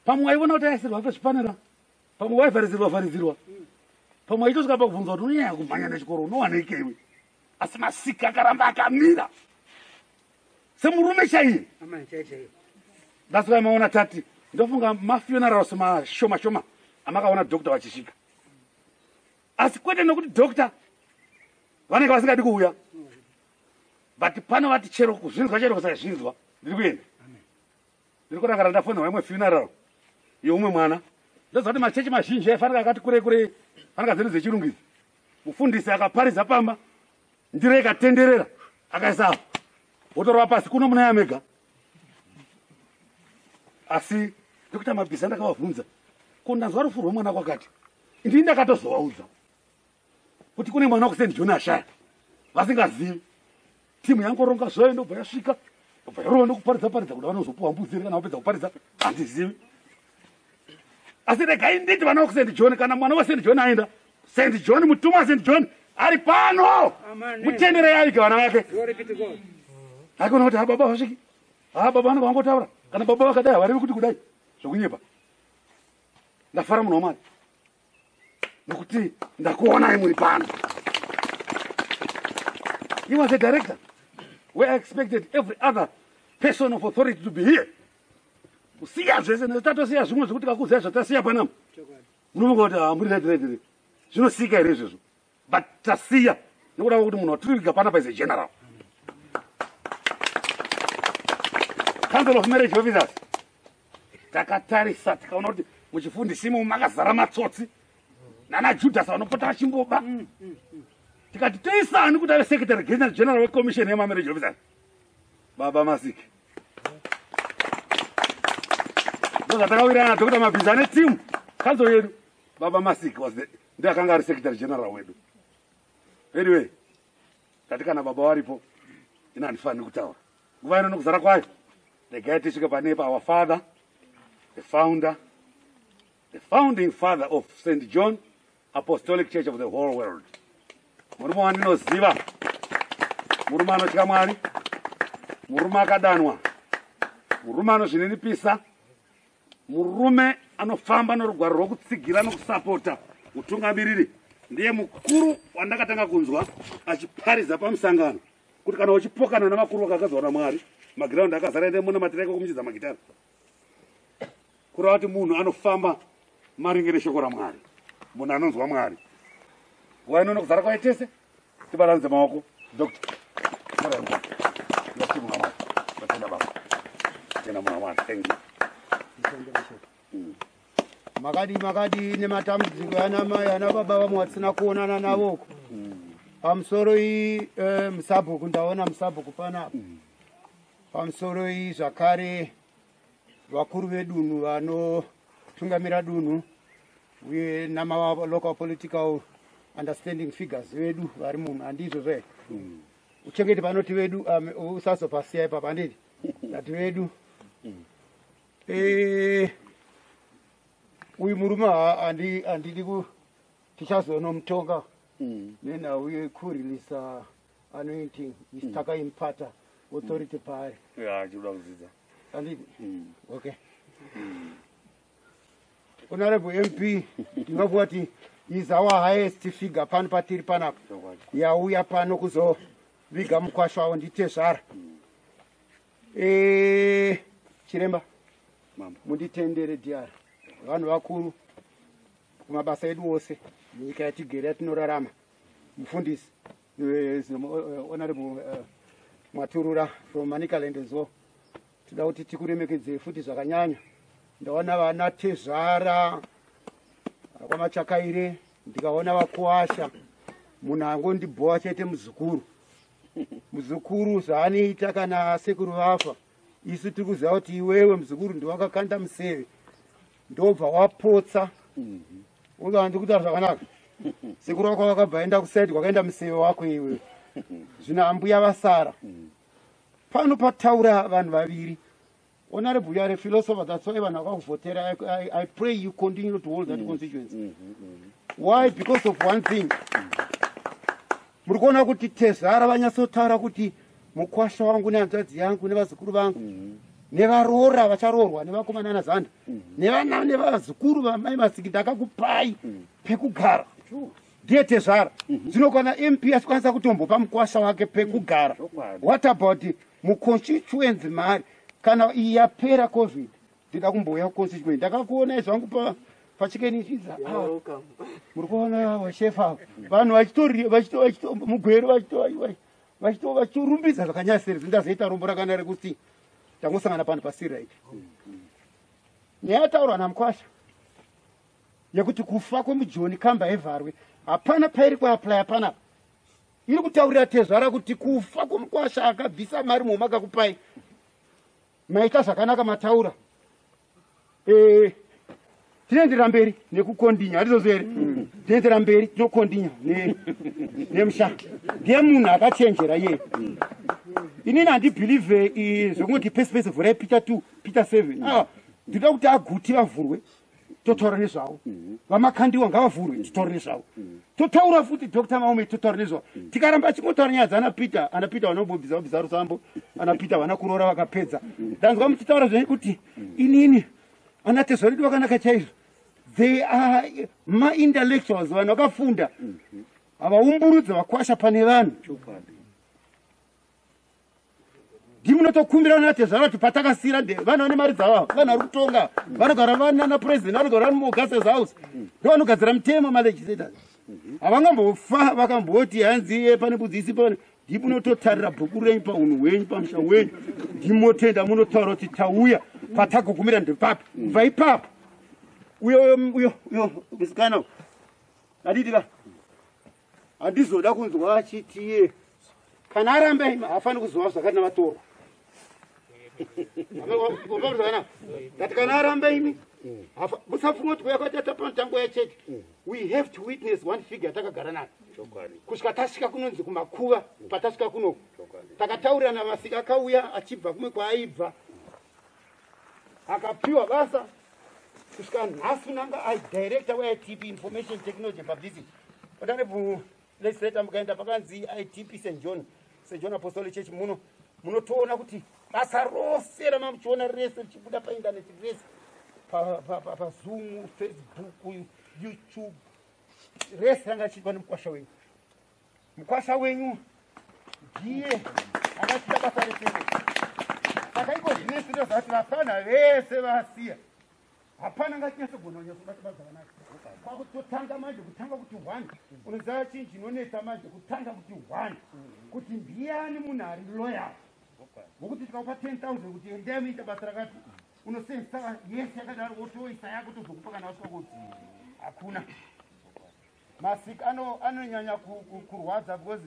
pamwe waivona kuti aisirwa pezvipanera pamwe waivharidzirwa vharidzirwa pamwe waitosvika pakubvunza kuti unonyanya kumhanya nechikoro unowaneikeiwe asi masika akaramba akamira semurume chaiye that's why maona tati ndofunga mafunerals mashoma shoma amakaona doctor vachisvika asi kwete nokuti doctor vanenge vasingadi kuuya but pano vati chero kuzvinzwa chero kusazvinzwa ndiri kuenda ndiri kurakara ndafonera imwe funeral yeumwe mwana ndoziva kuti machechi mazhinji aifanira akati kure kure fanira dzedu dzechirungu idzi mufundisi akaparidza pamba ndiro ikatenderera akaisa apo wotorova pasi kuno munaya mega asi ndokuita mabhiza ndakavavhunza ko ndanzwa rufu rwemwana kwakati ndii ndakatozovaudza kuti kune mwana wakusend joni ashaya vasingazivi timu yangoronga zvayo ndobva yasvika obva yarova ndokuparidza paridza kuda vanozopuwa mbudzi here kana vapedza kuparidza handizivi asi regai nditi vana vakusend joni kana mwana wasend joni aenda send joni mutuma wasend joni ari pano mutenderei avige vana vake haikona kuti hababa vasviki ha baba vanenge vangotaura kana baba vakadai havarevi kuti kudai zvokunyepa ndafara munhu wamwari nokuti ndakuonai muri pano he was a director where i expected every other person of authority to be here kusiya zvese tatosiya zvimwe zvekuti kakuzai zvatasiya panama munofunga kuti hamuri ah, rediredi re zvinosika here izvezvo but tasiya nekuda kwekuti munhu watiri kuviga panapa is a general council of marriage officers takatarisa tikaona kuti muchifundisimo makazara matsotsi nana judhasi vanopota vachimboba mm, mm, mm. tikati toisa ani kuti ave secretary general general wecommission yemamarriage officer baba masiki ndozvatakawirana dr mabhizi ane team kanzo yedu baba masiki was the ndiye akanga ari secretary general wedu anyway ndati kana baba varipo ini handifaniri kutaura nguva ino nokuzara kwayo regai tisvike pane pa our father the founder the founding father of st john apostolic church of the whole world murume wandinoziva murume anotya mwari murume akadanwa murume anozvininipisa Murume anofamba norugwaro rwokutsigira nokusapota utungamiriri ndiye mukuru wandakatanga kunzwa achiparidza pamusangano kuti kana uchipokana navakuru vakagadzwa namwari magiraundi akazara ende munamatira iko kumuchidza magitara kureva kuti munhu anofamba maringe neshoko ramwari munhu anonzwa mwari nguva inono kuzara kwaye tese tibaranidze maoko doctor tibaranidze ndati mwana mwana tatenda baba tatenda mwana mwana thank you mm. makadi makadi nematambudziko ana mai ana baba vamwe vasina kuonana navoko mm. pamusoro iyi eh, musabhuku ndaona musabhuku panapa mm. pamusoro iyi zvakare vakuru vedunhu vanotungamira dunhu uye namalocal political understanding figures vedu vari munhu handizvo zve mm. uchengeti panoti vedu um, usazopasiya ipapa handiti tati vedu mm. eh, uyu murume handidi ku tichazonomutonga mm. nenhau yekurilisa anointing is mm. takaimpata authority mm. paari yeah, achikuda kudzidza anditi mm. okay mm. honorable mp ndingakuva ti is our highest figure pano patiri panapa yauya pano kuzoviga mukwasho avo nditezvara mm. e, eh, chiremba munditendere dr vanhu vakuru kumabasa edu ose nyika yatigere yatinorarama mufundisi eh, eh, honorable eh, maturura from manicaland as well tinoda kuti tikuremekedzei futi zvakanyanya ndaona vana tezvara kwamachakaire ndikaona vakuwasha munhu angondibhowa chete muzukuru muzukuru zvaanoita kana sekuru vafa isu tiri kuziva kuti iwewe muzukuru ndiwakakanda museve ndobva wapotsa mm -hmm. uza handi kutaura zvakanaka sekuru wako wakabva enda kusaidi kwakaenda museve wako iwe zvino ambuya vasara pano pataura vanhu vaviri honorable you are a philosopher that's why vanhu vakakuvhotera I, I, i pray you continue to hold that mm. constituency mm -hmm. why because of one thing mm -hmm. muri kuona kuti tezvara vanyatsotaura kuti mukwasha wangu nehanzvadzi yangu nevazukuru vangu mhm. nevaroora vacharoorwa nevakomana ana zanda mhm. nevana nevazukuru vamai masiki ndakakupai mhm. pekugara ndiye tezvara zvino kana mp achikwanisa kutombopa mukwasha wake pekugara what about muconstituency mari kana iyi yapera covid ndida kumbouya kuconstituent ndakakuonai zvangu pa pachikenichiza ah, muri kuona vashefa vanhu vachitomugwero vachitorumbidza zvakanyasiri zindazoita rombo rakana rekuti tangosangana pano pasiriit nyaya yataurwa namukwasha yekuti kufa kwemujoni kamba evharwe hapana pairi kuaplya panapa iri kutaurira tezvara kuti kufa kwomukwasha akabvisa mari muhuma kakupai maita zvakanaka mataura eh, tinoendera mberi nekukondinya hatizozi here mm. tinoendera mberi tinokondinya nemusha ndiye munhu akachenjera iye mm. inini handibhilivhe eh, zvekungoti pesi pesi vhurai peter two peter seven ah, ndinoda kuti aguti vavhurwe totaura nezvavo mhm. vamakandiwa ngavavhurwe titaure nezvavo mhm. totaura futi dr maume totaura nezvavo mhm. tikaramba chingotaura nyaya dzana peter ana peter vanombobviza vabviza rusambo ana peter vana kuroora vakapedza ndanzwa muchitaura zvenyu kuti inini ana tezvaredu vakanaka chaizvo they are maintellectuals vanhu vakafunda havaumburudza vakwasha pane vanhu ndimunotokumbira natezvara kuti patakasira nde vana vane mari dzavo vana vari kutonga vanogara vanana president vanogara vari muogases house ndo vanogadzira mitemo malegislators havangambofa vakamboti hanzi pane budzi isi pane ndimunototarira bhuku renyu paunhu hwenyu pamusha wenyu ndimotenda munotaura kuti tauya patagogumira ndepapi kubva ipapo uyo uyo uyo uyo musikana aditika handizoda kunzwa achitie kana aramba ima hafani kuzova zvakati navatorwa ngati kana aramba imi musafunga kuti kuya kwatata panotango yachechi we have to witness one figure yatakagara nayo kusvika tasvika kunonzi kumakuva patasvika kunoku takataurirana masika akauya achibva kumwe kwaaibva akapiwa basa kusvika nhasi unanga as director weitp information technology publicity otanebu legislator mukaenda pakanzi itp st john st john apostolic church muno munotoona kuti basa rose ramamuchiona rese richibuda paindaneti rese pazoom facebook youtube rese ranga chiitwa nemukwasha wenyu Mukwasha wenyu ndiye akaita basa retengo. Saka iko zvine sito zvati vafana vese vasiya. Hapana ngatinyaso gona nyaso bata basa vanaka. Kwa kutotanga manje kutanga kuti one. Unoziva chinhu chinonetsa manje kutanga kuti one. Kuti ndiyani munhu ari loyal. Ngokuti tikaupa 10000 kuti endai muita basa rakati unosensa yese yakadaro wotoisa yako tozokupa kana wasvika kuti hakuna. masik anonyanya kurwadza because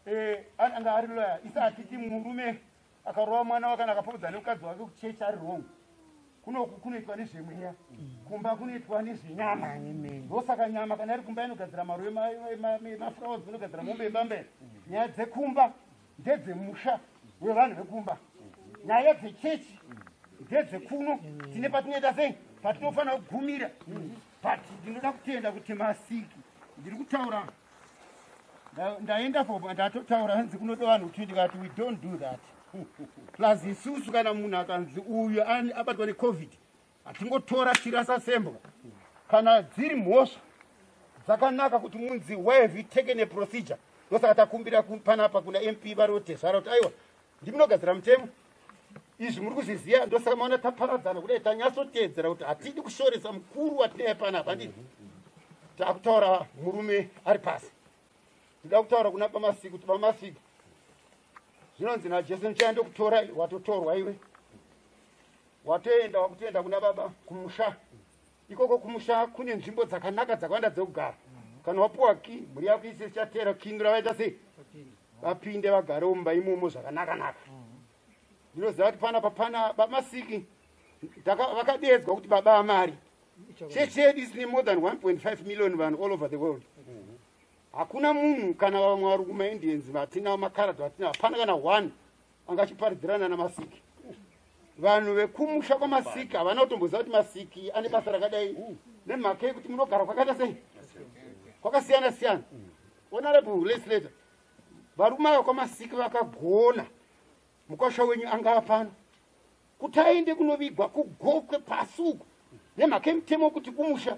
eh, anga ari loya isi atiti murume akarova mwana wake kana akapopedza nemukadzi wake kuchechi ari wrong kunoku kunoitwa nezvemweya kumba kunoitwa nezvenyama ndosaka nyama kana iri kumba inogadzira maruve maflowers inogadzira mombe yebambere nyaya dzekumba ndedzemusha wevanhu vekumba nyaya dzechechi ndedzekuno tine patinoita sei patinofanira kugumira but ndinoda kutenda kuti masiki ndiri kutaura ndaenda fo ndatotaura hanzi kunoda vanhu kuti ndikati we don't do that plus isusu kana munhu akanzi uyu abatwa necovid hatingotora tirasa sembwa kana dziri mhosva dzakanaka kuti munzi why have you taken a procedure ndosaka takumbira panapa kuna mp varotesvara kuti aiwa ndimunogadzira mutemo izvi muri kuzviziva ndosaka maona taparadzana kudai tanyatsoteedzera kuti hatidi kushoresa mukuru watinaye pana apa ndii takutaura murume ari pasi tida kutaura kuna pamasiku kuti pamasiku zvinonzi najesu ndichaya ndokutora watotorwa iwe watoenda wakutoenda kuna baba kumusha ikoko kumusha kune nzvimbo dzakanaka dzakawanda dzekugara kana wapiwa ki mhuri yako ise ichateera kindu ravaita sei vapinde vagarewo mumba imomo zvakanaka naka ndinoziva kuti pana papana bamasiki vakadeedzwa kuti baba amari chechi yedu isine more than 1.5 million vanhu all over the world hakuna munhu kana vamwe vari kumaindians vatinawo makarad vatinao hapana kana one anga achiparidzirana namasiki vanhu vekumusha kwamasiki havana kutomboziva kuti masiki ane basa rakadai nemhaka yekuti munogara kwakaita sei kwakasiyana siyana honorable legislator varume ava kwamasiki vakagona mukwasha wenyu anga apano kuti aende kunovigwa kugokwe pasi uku nemhaka yemutemo wekuti kumusha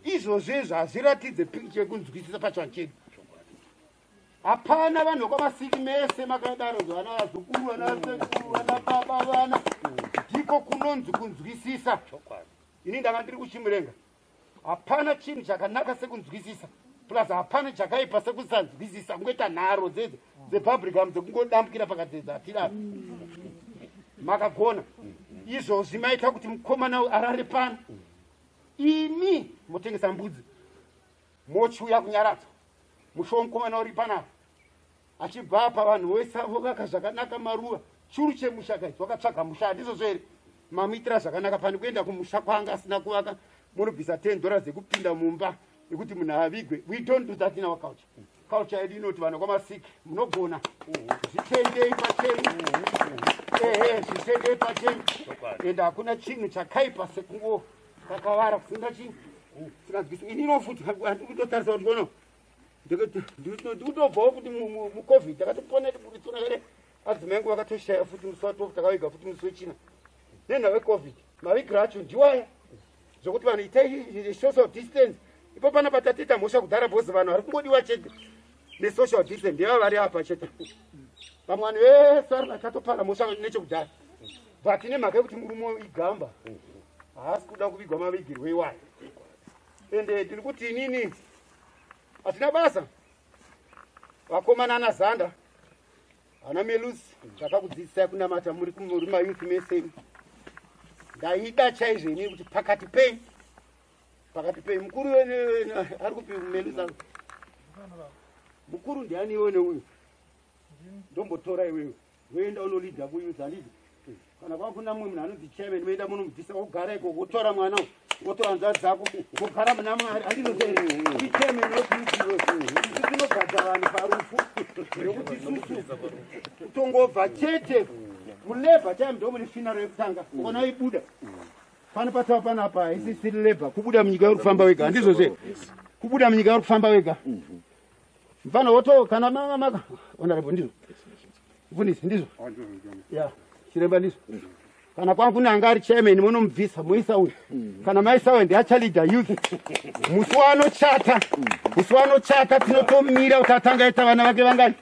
izvozvo izvo hazviratidze pikicha yekunzwisisa pachivanhu chedu hapana vanhu vekwavasiki mese makadaro zvana vazukuru vana vasekuru vana baba vana ndiko kunonzi kunzwisisa ini ndanga ndiri kuchimurenga hapana chinhu chakanaka sekunzwisisa plus hapana chakaipa sekusanzwisisa kungoita nharo dzedze dzepublicam dzekungodambukira pakadzedza atirapi makagona izvozvi maita kuti mukomana arare pano imi motengesa mbudzi mochiuya kunyaradza musho womukomana uri panapa achibva apa vanhu vese avo vaka zvakanaka maruva churu chemusha kaizi wakatsvaga musha handizvozvo here mamuitira zvakanaka pane kuenda kumusha kwaanga asina kuvaka munobvisa 10 dhora dzekupinda mumba yekuti munhu avigwe we don't do that in our culture Culture yedu inoti vana kwamasiki munogona zvitendei pachenyu ehe zvitendei pachenyu ende hakuna chinhu chakaipa sekungo kakavara kusinga chinhu singanzwisi ini inofuti handikutotarisa kuti kono ndikutobvawo kuti mucovid ndakatopona tiburitsona here adzimai ngo vakatoshaya futi musi wa 12 takaviga futi musi wechina nenha wecovid mavigira acho ndiwaya zvekuti vanhu itai social distance ipo pana patatiita mhosva kudhara bhozi vanhu vari kungodiwa chete nesocial distance ndeva vari apa chete vamwe vanhu vese vari vakatopara mhosva nechekudhara but nemhaka yekuti murume igamba haasi kuda kuvigwa mavigirwo iwayo ende tiri kuti inini hatina basa vakomana ana zanda ana melus ndakakudzidzisai kunamata muri muri mayouth mese ndaida chaizvo ini kuti pakati pei pakati pei mukuru wene ari kupi melus a mukuru ndiani iwene uyu ndombotora iwewe Voenda unolidha kuinza ndizvo. Kana kwakuna mumwe munhu anonzi chairman voenda munomubvisa wogara ikoko wotora mwana uyu wotora hanzvadzi dzako wogara muna mwari andinotere ndi chairman wekuidiwe isu tinobhadha vanhu parufu nokuti isusu kutongobva chete mulabor time ndo mune finaro yekutanga ona ibuda pano patava pano apa haisi siri labor kubuda munyika uri kufamba wega handizvo zve kubuda munyika uri kufamba wega mfana woto kana mama maka honorable ndizvo mfundisi ndizvo ya chiremba ndizvo kana kwangu nanga ari chairman munomubvisa muisa uyu kana maisa uyu ndiachalida youth musi wanochata musi wanochata tinotomira kuti atanga aita vana vake vangani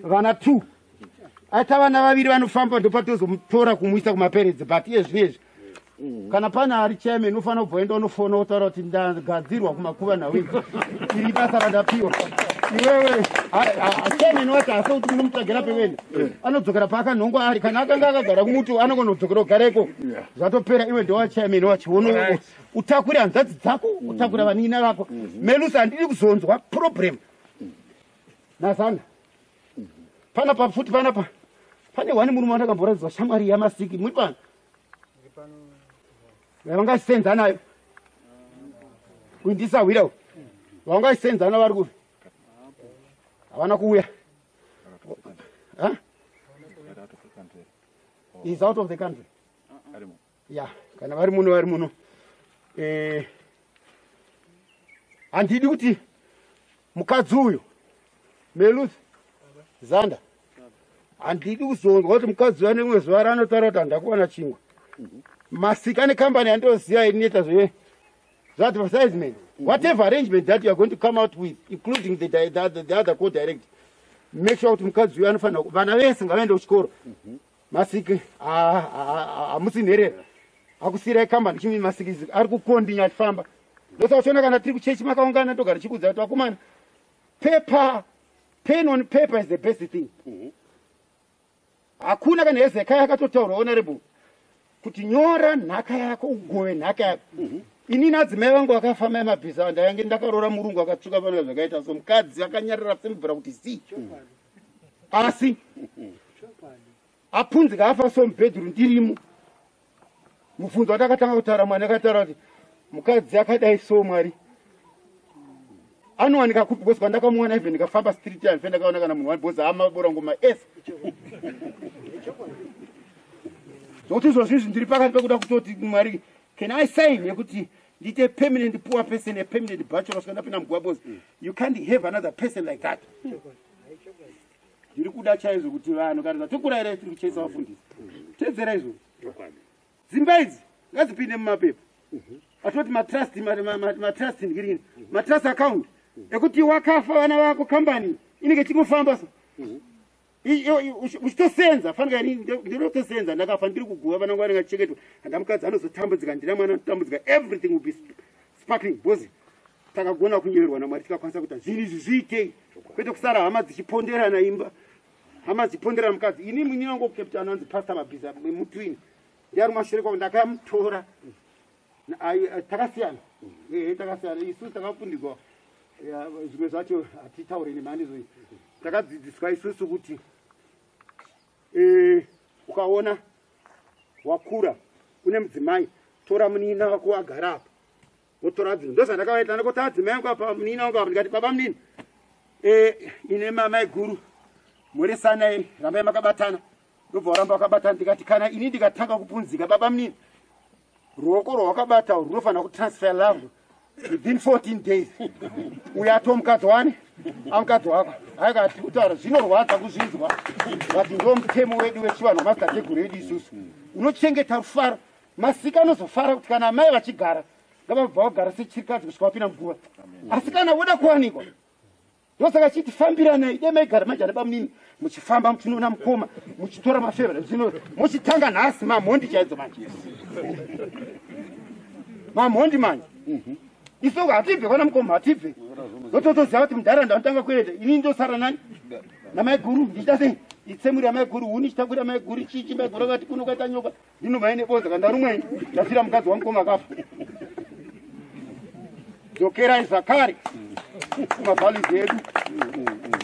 vana two ata vana vaviri vanofamba ndopatozomutora kumuisa kumaperedzi but iye zvino izvi mm. kana pane ari cheme inofanira kubva enda unofona wotaura kuti ndagadzirwa kumakuva nhau izi iri basa randapiwa iwewe cheme inowati hasa kuti munomutsvagira pevene eh. anodzokera paakanhongwa ari kana akanga akagara kumuti anongonodzokera kugareko zvatopera iwe ndewacheme inowati wono utakure hanzvadzi dzako mm. utakure vanin'ina vako mm-hmm. melusi handidi kuzonzwa problem mm. nasana panapa futi panapa pane wani murume wandakamboradzwa shamwari yamasiki muri pano vangasenza nayo kuindisahwira vangasenza na vari kuvi havana kuuya is out of the country ya kana vari muno vari muno eh, handidi kuti mukadzi uyo meluth zanda handidi kuzonzwa kuti mukadzi uyo anemwe zuva raanotaura kuti handakuwana chingwa masika ane kambani yandoziva inoita zve zvaadvertisement whatever arrangement that youare going to come out with including the, the, the, the other co direct make sure kuti mukadzi uyo anofanira vana vese ngavaende kuchikoro masiki hamusi nherera akusiirai kambani chimi masiki ari kukondinya achifamba ndosa uchiona kana tiri kuchechi makaungana ndogara chikuudza kuti vakomana paper pen on paper is the best thing mhm. hakuna kana hezekai akatotaura honorable kuti nyora nhaka yako ugove nhaka yako mhm. ini nadzimai vangu vakafamba emabhiza ndayange ndakaroora murungu akatsvuka vana zvakaita so mukadzi akanyarira semvura kuti zii asi apunzi kaafa so mubhedhuru ndirimo mubvunzo watakatanga kutaura mwana akataura kuti mukadzi akadai so mwari anowanika kupi bcause kwandakamuwana even ndikafamba street ya ndife ndakaona kana munhu wabhozi amabora ngoma ese zvokuti izvozvo izvi ndiri pakati pekuda kutoti mwari can i sign yekuti ndiite permanent poor person a permanent bachelor kusvika ndapinda mugwabos mm. you can't have another person like that mm. ndiri kuda chaizvo kuti vanhu kana zvatokura here tiri kuchaisa vafundisi tedzera izvo dzimba idzi ngadzipinde mumapepa mhm. atoti matrust matrust ndirini mhm. matrust account mhm. ekuti wakafa vana vako kambani inenge chingofamba so uchitosenza fanika ini ndinotosenza ndakafa ndiri kuguva vana ngwari ngacheketwa handa mukadzi anozotambudzika ndina mwana anotambudzika everything will be sparkling because takagona kunyeverwa namwari tikakwanisa kuita zvinhu izvi zviitei kwete kusara hama dzichiponderana imba hama dzichiponderana mukadzi ini mwini wangu captain anonzi pastor mabhiza mutwini ndiari mashure kwavo ndakamutora takasiyana ehe takasiyana isu takafundigwa zvimwe zvacho hatitaure nemhani izoi takadzidziswa isusu kuti eh, ukaona wakura une mudzimai tora munina wako wagara apa wotora dzino ndozvandakavaita ndakota adzimai angu apa munina wangu apa ndikati baba munini eh, ine mamai guru mhorisanai rambai makabatana ndobva waramba wakabatana ndikati kana ini ndikatanga kupunzika baba munini ruoko rwawakabata runofanira kutransfer love within 14 days uyo ati omukadzi wani amukadzi wako akati kutaura zvinorwadza kuzvinzwa but ndo mutemo wedu wechivanhu wamadzitateguru edu isusu unochengeta rufaro masika anozofara kuti kana amai vachigara ngavabva vagara sechirikadzi kusvika wapinda muguva asi kana voda kuwanikwa ndosaka chiti fambiranai dai maigara manje ana bamunini muchifamba muchinoona mukoma muchitora mafevera zvino muchitanga nhasi mamhondi chaidzo manje mamhondi manje mhm. isoko hatibve kwana mukoma hatibve ndototoziva kuti mudhara ndanotanga kuenda ini ndosara nani namaiguru ndichita sei itsemuri yamaiguru huni chitakwira maiguru chichi maiguru vati kunokaita nyoka Inu mai nebonza kandarumwa ini ndafira mukadzi wangu koma kafa. Dzokerai zvakare kumavhalidzi edu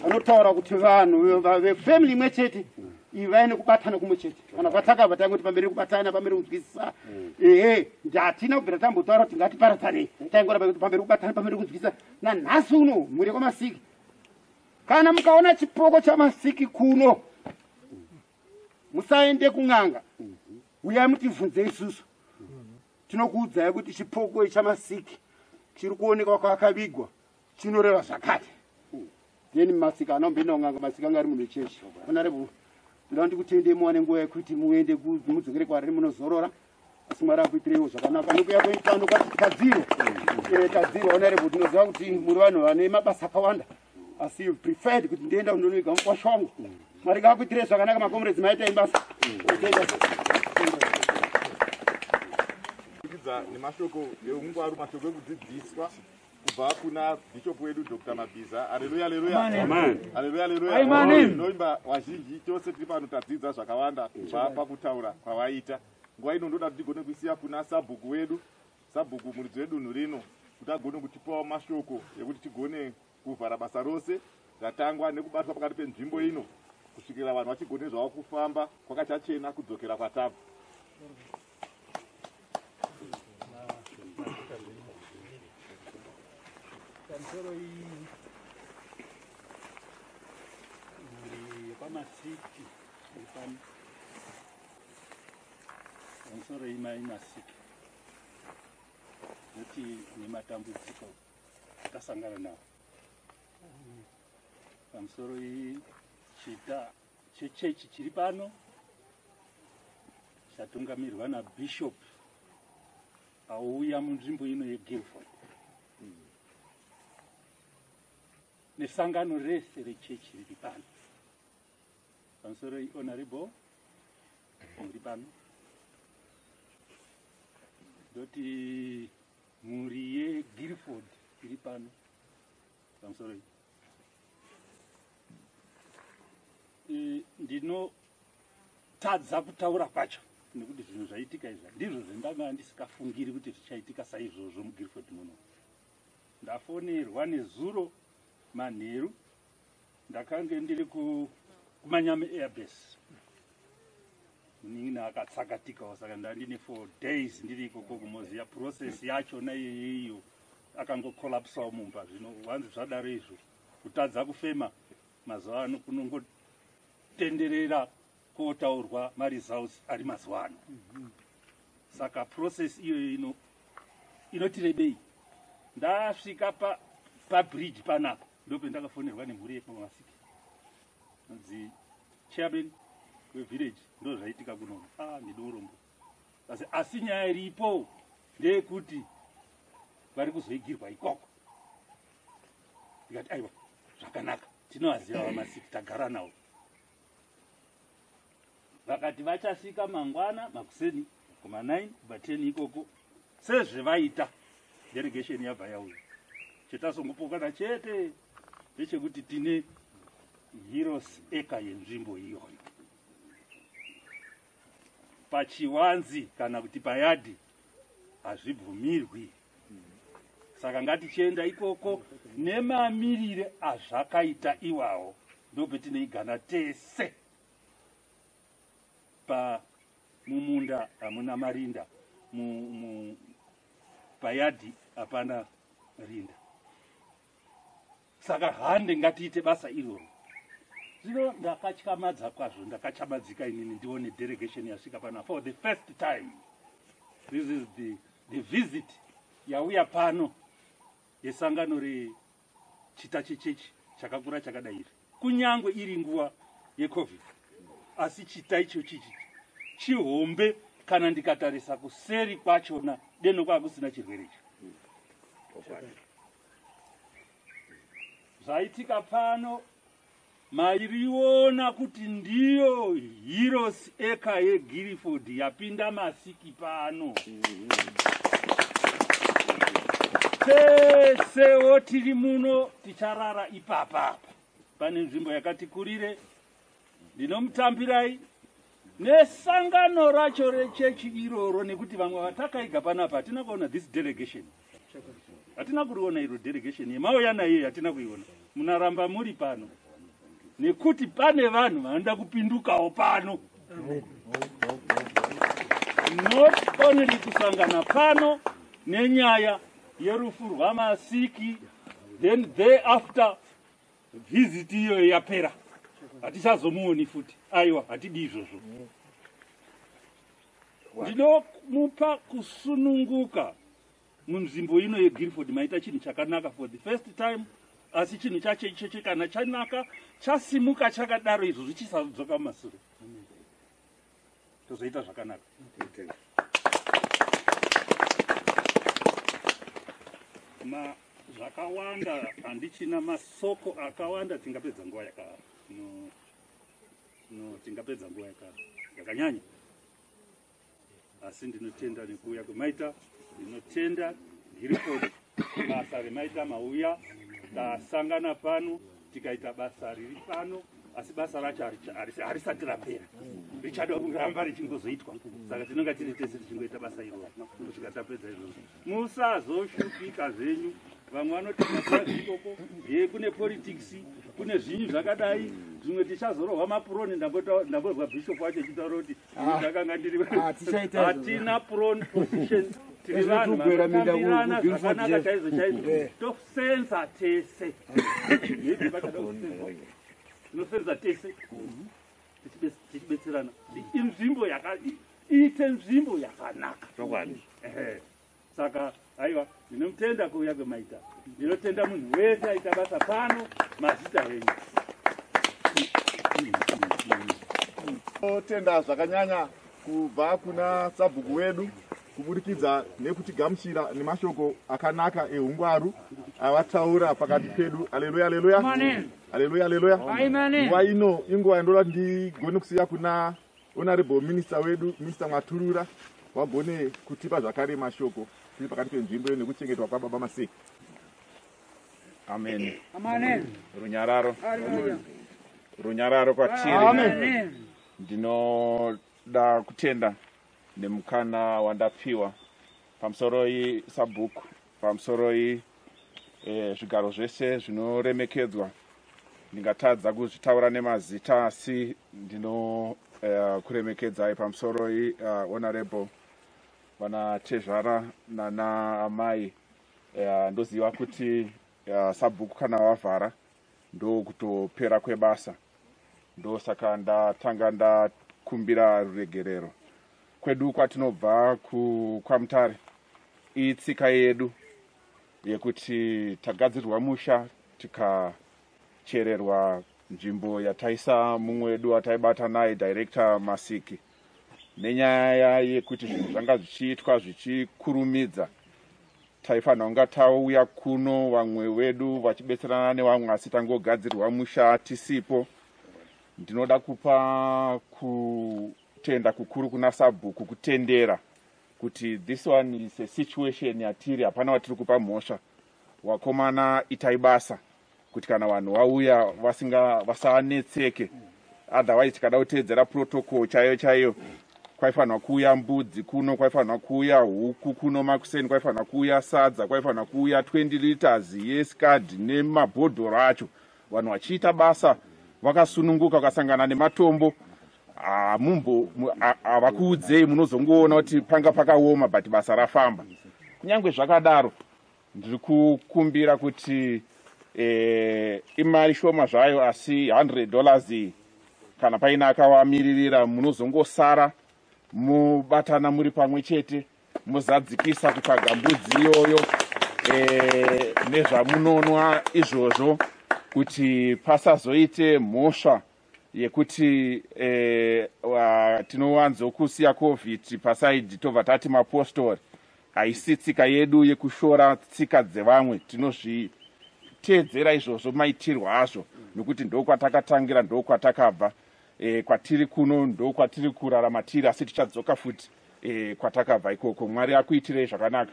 anotaura kuti vanhu vefamily imwe chete ivai nekubatana kumwe chete kana kwatakabva taingoti pamberi kubatana pamberi kunzwisisa ehe ndatina kubvira tambotaura kuti ngatiparatsanei taingoramba kuti pamberi kubatana pamberi kunzwisisa nanhasi uno mhuri kwamasiki kana mukaona chipoko chamasiki kuno musaende kun'anga uyai mutivhunze isusu tinokuudzai kuti chipoko ichamasiki chiri kuonekwa kwakavigwa chinoreva zvakati then masika anombenda kun'anga masika anga ari munhu cheshe onarebo ndoda ndikutendei muwane nguva yekuti muende mudzokere kwariri munozorora asi mwari akuitireiwo zvakanaka nokuya kweitano kadziro eh, kadziro onare kuti ndinoziva kuti muri vanhu vane mabasa akawanda asi you preferred kuti ndienda kundonoiga mukwasha wangu mwari ngakuitirei zvakanaka makomrades maita imbasa nemashoko eungwaru mashoko ekudzidziswa kubva kuna bishop wedu dr mabhiza aleluya aleluya aleluya aleluya ndoimba vazhinji tose tiri pano tadzidza zvakawanda kubva pakutaura kwavaita nguva ino ndoda kuti tigone kuisiya kuna sabhuku wedu sabhuku muridzi wedunhu rino kuti agone kutipawo mashoko ekuti tigone kuvhara basa rose ratangwa nekubatwa pakati penzvimbo ino kusvikira vanhu vachigone zvavo kufamba kwakachachena kudzokera kwatabva Thank you. masiki ipani pamusoro imai masiki nekuti nematambudziko atasangana nawo pamusoro iyi chita chechechi chiri pano chatungamirwa nabishop auya munzvimbo ino yeguilford nesangano rese rechechi riri pano pamusoro ihonorable muri pano ndoti mhuri yeguilford iri pano pamusoro iyi ndinotadza kutaura kwacho nekuti zvinhu zvaitika izva ndizvo zvendanga ndisikafungiri kuti zvichaitika saizvozvo mugirford muno ndafonerwa nezuro manheru ndakange ndiri kumanyame airbase munin'ina akatsakatikawo saka ndandine four days ndiri ikoko kumoziya process yacho naiyoiyo akango collapsawo mumba zvino wanzi zvadaro izvo kutadza kufema mazuva ano kunongotenderera kotaurwa maresults ari mazuva ano saka process iyoyo ino inotirebei ndasvika pa pabridge panapa ndope ndakafonerwa nemhuri yekumasiki nonzi chairman wevillage ndozvaitika kunono ah ndine urombo asi asi nyaya iripo ndeyekuti vari kuzoigirwa ikoko ndikati aiwa zvakanaka tinovaziva vamasiki tagara navo vakati vachasvika mangwana makuseni kuma 9 kuba 10 ikoko sezvevaita delegation yabva yauya chetasongopokana chete ndechekuti tine heroes eka yenzvimbo iyoyo pachiwanzi kana kuti payadhi hazvibvumirwi saka ngatichienda ikoko nemamirire azvakaita iwawo ndopetinoigana tese pa mumunda hamuna marinda payadhi hapana rinda saka hande ngatiite basa iroro zvino ndakatyamadza kwazvo ndakachamadzika inini ndione delegation yasvika pana for the first time this is the, the visit yauya pano yesangano rechita chechechi chakakura chakadai iri kunyange iri nguva yecovid asi chita icho chichi chihombe kana ndikatarisa kuseri kwachona deno kwava kusina chirwere icho zvaitika pano mairiona kuti ndiyo heroes eka yegiriford yapinda masiki pano tesewo tiri muno ticharara ipapa apa pane nzvimbo yakati kurire ndinomutambirai nesangano racho rechechi iroro nekuti vamwe vatakaiga panapa hatina kuona this delegation hatina kuriona iro delegation yemauya naiyo yatina kuiona munaramba muri pano nekuti pane vanhu vanoda kupindukawo pano not only kusangana pano nenyaya yerufu rwamasiki then thereafter vhiziti iyoyo yapera hatichazomuoni futi aiwa hatidi izvozvo ndinomupa kusununguka munzvimbo ino yegirford maita chinhu chakanaka for the first time asi chinhu chacho ichocho kana chanaka chasimuka chakadaro izvo zvichisadzoka mumasure tozoita zvakanaka okay. ma zvakawanda handichina masoko akawanda tingapedza nguva yaka no, no tingapedza nguva yaka yakanyanya asi ndinotenda nekuuya kwemaita ndinotenda girikodi basa remaita mauya tasangana pano tikaita basa riri pano asi basa racho harisati rapera richada kuramba richingozoitwa saka tinonga tiri tese tichingoita basa iroro kusvika tapedza izvozvo musazoshupika zvenyu vamwe vanotiaikoko ye kune politics kune zvinyu zvakadai zvimwe tichazorohwa mapuroni ndambozwa bishop wacho chitaura kuti ah, ndakanga ndiri ah, hatina puroni position tiri vanhu vanokambiranazvakanaka chaizo chaizo eh. senza tese tinosenza tese tichibetserana inzvimbo iite nzvimbo yakanaka chokwadi saka aiwa ndinomutenda kuuya kwemaita ndinotenda munhu wese aita basa pano mazita venyu totenda zvakanyanya kubva kuna sabhuku wedu kuburikidza nekutigamuchira nemashoko akanaka eungwaru avataura pakati pedu aleluya aleluya aleluya aleluya nguva ino inguva yandoda kuti ndigone kusiya kuna honorable minister wedu minister maturura wagone kutipa zvakare mashoko tiri pakati penzvimbo iyo nekuchengetwa kwababa masei amen runyararo runyararo kwatiri ndinoda kutenda nemukana wandapiwa pamusoroi sabhuku pamusoroi eh, zvigaro zvese zvinoremekedzwa ndingatadza kuzvitaura nemazita asi ndinokuremekedzai eh, uh, pamusoroi uh, eh, honorable vana tezvara nana amai uh, ndoziva kuti uh, sabhuku kana wavhara ndokutopera kwebasa ndosaka ndatanga ndakumbira ruregerero kwedu kwatinobva kwamutare itsika yedu yekuti tagadzirirwa musha tikachererwa nzvimbo yataisa mumwe wedu wataibata naye director masiki nenyaya yekuti zvinhu zvanga zvichiitwa zvichikurumidza taifanira kunga tauya kuno vamwe vedu vachibetserana nevamwe asi tangogadzirwa musha tisipo ndinoda kupa kutenda kukuru kuna sabhuku kutendera kuti this one is a situation yatiri hapana watiri kupa mhosva wakomana itai basa kuti kana vanhu vauya vasinga vasanetseke otherwise tikada kuteedzera protocol chaiyo chaiyo kwaifanirwa kuuya mbudzi kuno kwaifanirwa kuuya huku kuno makuseni kwaifanirwa kuuya sadza kwaifanirwa kuuya 20 liters yescard nemabhodhoro acho vanhu vachiita basa vakasununguka ukasangana nematombo hamumbo havakuudzei munozongoona kuti panga pakaoma but basa rafamba kunyange zvakadaro Ndiri kukumbira kuti eh, imari shoma zvayo asi 100 dollars iyi kana paine akawamiririra munozongosara mubatana muri pamwe chete muzadzikisa kutsvaga mbudzi iyoyo eh, nezvamunonwa izvozvo kuti pasazoite mhosva yekuti eh, tinowanzo kusiya covid pasaidi tobva tati mapostori haisi tsika yedu yekushora tsika dzevamwe tinozviteedzera izvozvo maitirwo azvo nokuti ndokwatakatangira ndokwatakabva eh, kwatiri kuno ndokwatiri kurarama tiri asi tichadzoka futi eh, kwatakabva ikoko mwari akuitirei zvakanaka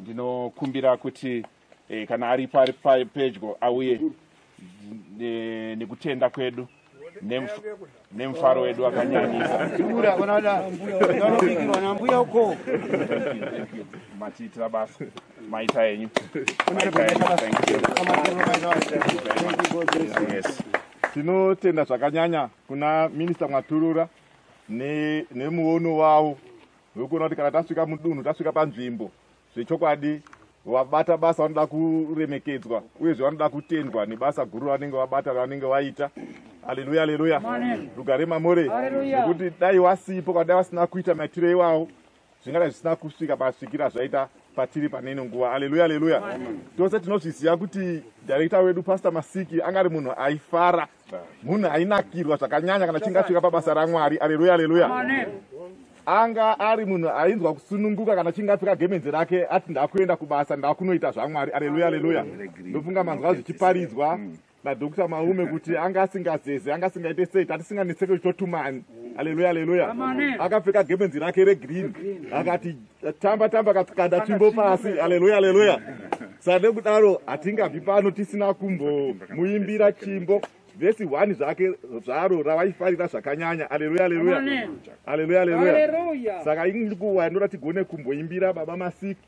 ndinokumbira kuti e, kana aripo ari pedyo auye e, nekutenda kwedu nemufaro wedu wakanyanyisaambuya uko matiitira basa maita enyu tinotenda zvakanyanya kuna minista mwaturura nemuono wavo wekuona kuti kana tasvika mudunhu tasvika panzvimbo zvechokwadi vabata basa vanoda kuremekedzwa uyezve vanoda kutendwa nebasa guru ravanenge vabata ravanenge vaita aleluya aleluya rugare mamore nekuti dai wasipo kana dai vasina kuita maitiro iwawo zvingadai zvisina kusvika pasvikira zvaita patiri paneno nguva aleluya aleluya tose tinozviziva kuti direkta wedu pastor masiki anga ari munhu aifara munhu ainakirwa zvakanyanya kana chinge asvika pabasa ramwari aleluya aleluya anga ari munhu ainzwa kusununguka kana chinge apfeka gemenzi rake ati ndakuenda kubasa ndakunoita zvamwari aleluya aleluya ndofunga manzwa zvichiparidzwa nadokta maume kuti anga asingazeze anga asingaite sei tatisinganetseke zvitotumani aleluya aleluya akapfeka gemenzi rake regreen akati tamba tamba katikanda tsvimbo pasi aleluya aleluya sade kudaro hatingabvi pano tisina kumbomuimbira chimbo vhesi one zvake zvaro ravaifarira zvakanyanya aleluya aleluya aleluya aleluya saka ini ndikuwa ndinoda tigone kumboimbira baba masiki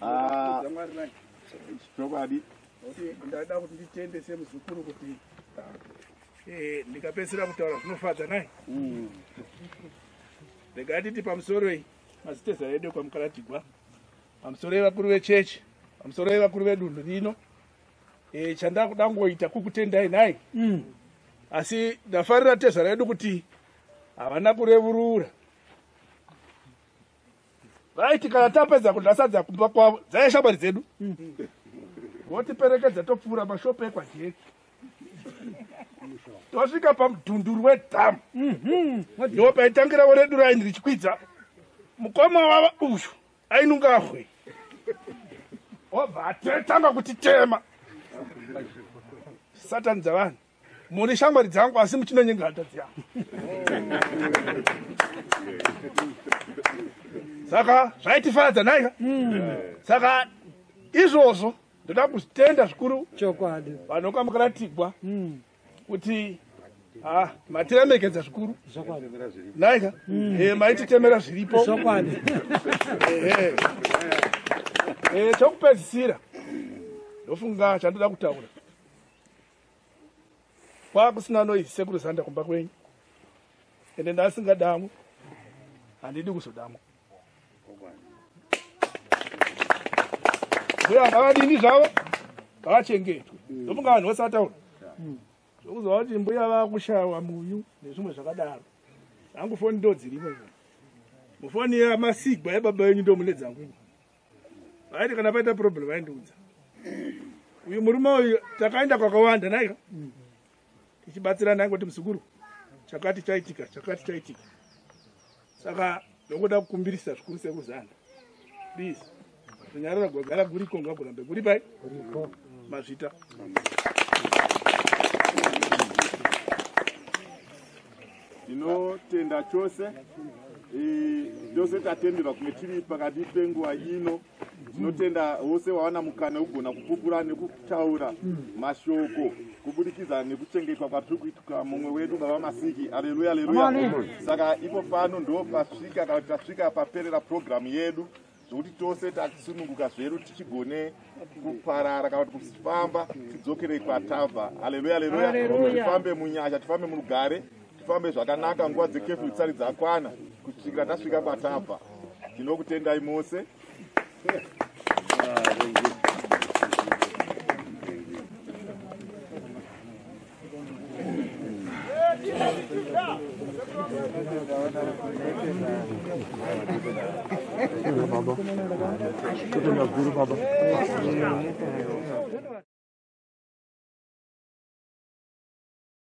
Ah, chokwadi ndada kuti nditende semuzukuru kuti eh, ndikapedzisira kutaura zvinofadza nai mm. regai titi pamusoro iyi maziteza edu kwamukaratigwa pamusoro evakuru vechechi pamusoro evakuru vedunhu rino e, chandakuda kungoita kukutendai nhai mm. asi ndafarira tezvara yedu kuti havana kurevurura vaiti kana tapedza kundasadza kumba kwavo dzaiya shamwari dzedu mm. votiperekedza topfuura mashopo ekwajeki tosvika pamudhunduru wedhamu mhm. ndopaitangirawo redu raini richikwidza mukoma wava uyu ainungahwe obva atanga kuti tema satani dzavanhu muri shamwari dzangu asi muchinonyengera hata dzeangu saka zvaitifadza naika hmm. saka izvozvo ndoda kuzvitenda zvikuru chokwadi vanokamukana tigwa hmm. kuti ah, matiremekedza zvikuru naika mm. eh, maititemera zviripo eh, eh. chokupedzisira ndofunga chandoda kutaura kwakusina noise sekuru zanda kumba kwenyu ende ndasingadamwe handidi kuzodamwa mbuya ngavadini zvavo ngavachengetwe ndomunga vanhu vose vataura zvokuzova kuti mbuya vakushawa muyu nezvimwe zvakadaro angu foni ndodzirimo mufoni yamasigwa yababa venyu ndo mune dzangu vaiti kana paita problem vaindiudza uyu murume uyu takaenda kwakawanda naika tichibatsirana kuti muzukuru chakati chaitika chakati chaitika saka ndokuda kukumbirisa zvikuru sekuzana please kunyarara gwagara guriko ngakurambe kuri pai mazvita tinotenda chose chose tatenderwa kunge tiri pakati penguva ino tinotenda vose vawana mukana wekugona kupupura nekutaura mashoko kubudikidza nekuchengetwa kwatiri kuitwa mumwe wedu baba masiki aleluya aleluya saka ipo pano ndo pasvika kana tasvika paperera purogiramu yedu zvekuti tose tasununguka zvedu tichigone kuparara kana kuti kufamba tidzokerei kwatabva aleluya aleluya tifambe munyasha tifambe murugare tifambe zvakanaka nguva dzekefyu tsari dzakwana kusvikira tasvika kwatabva tinokutendai mose Baba. Baba.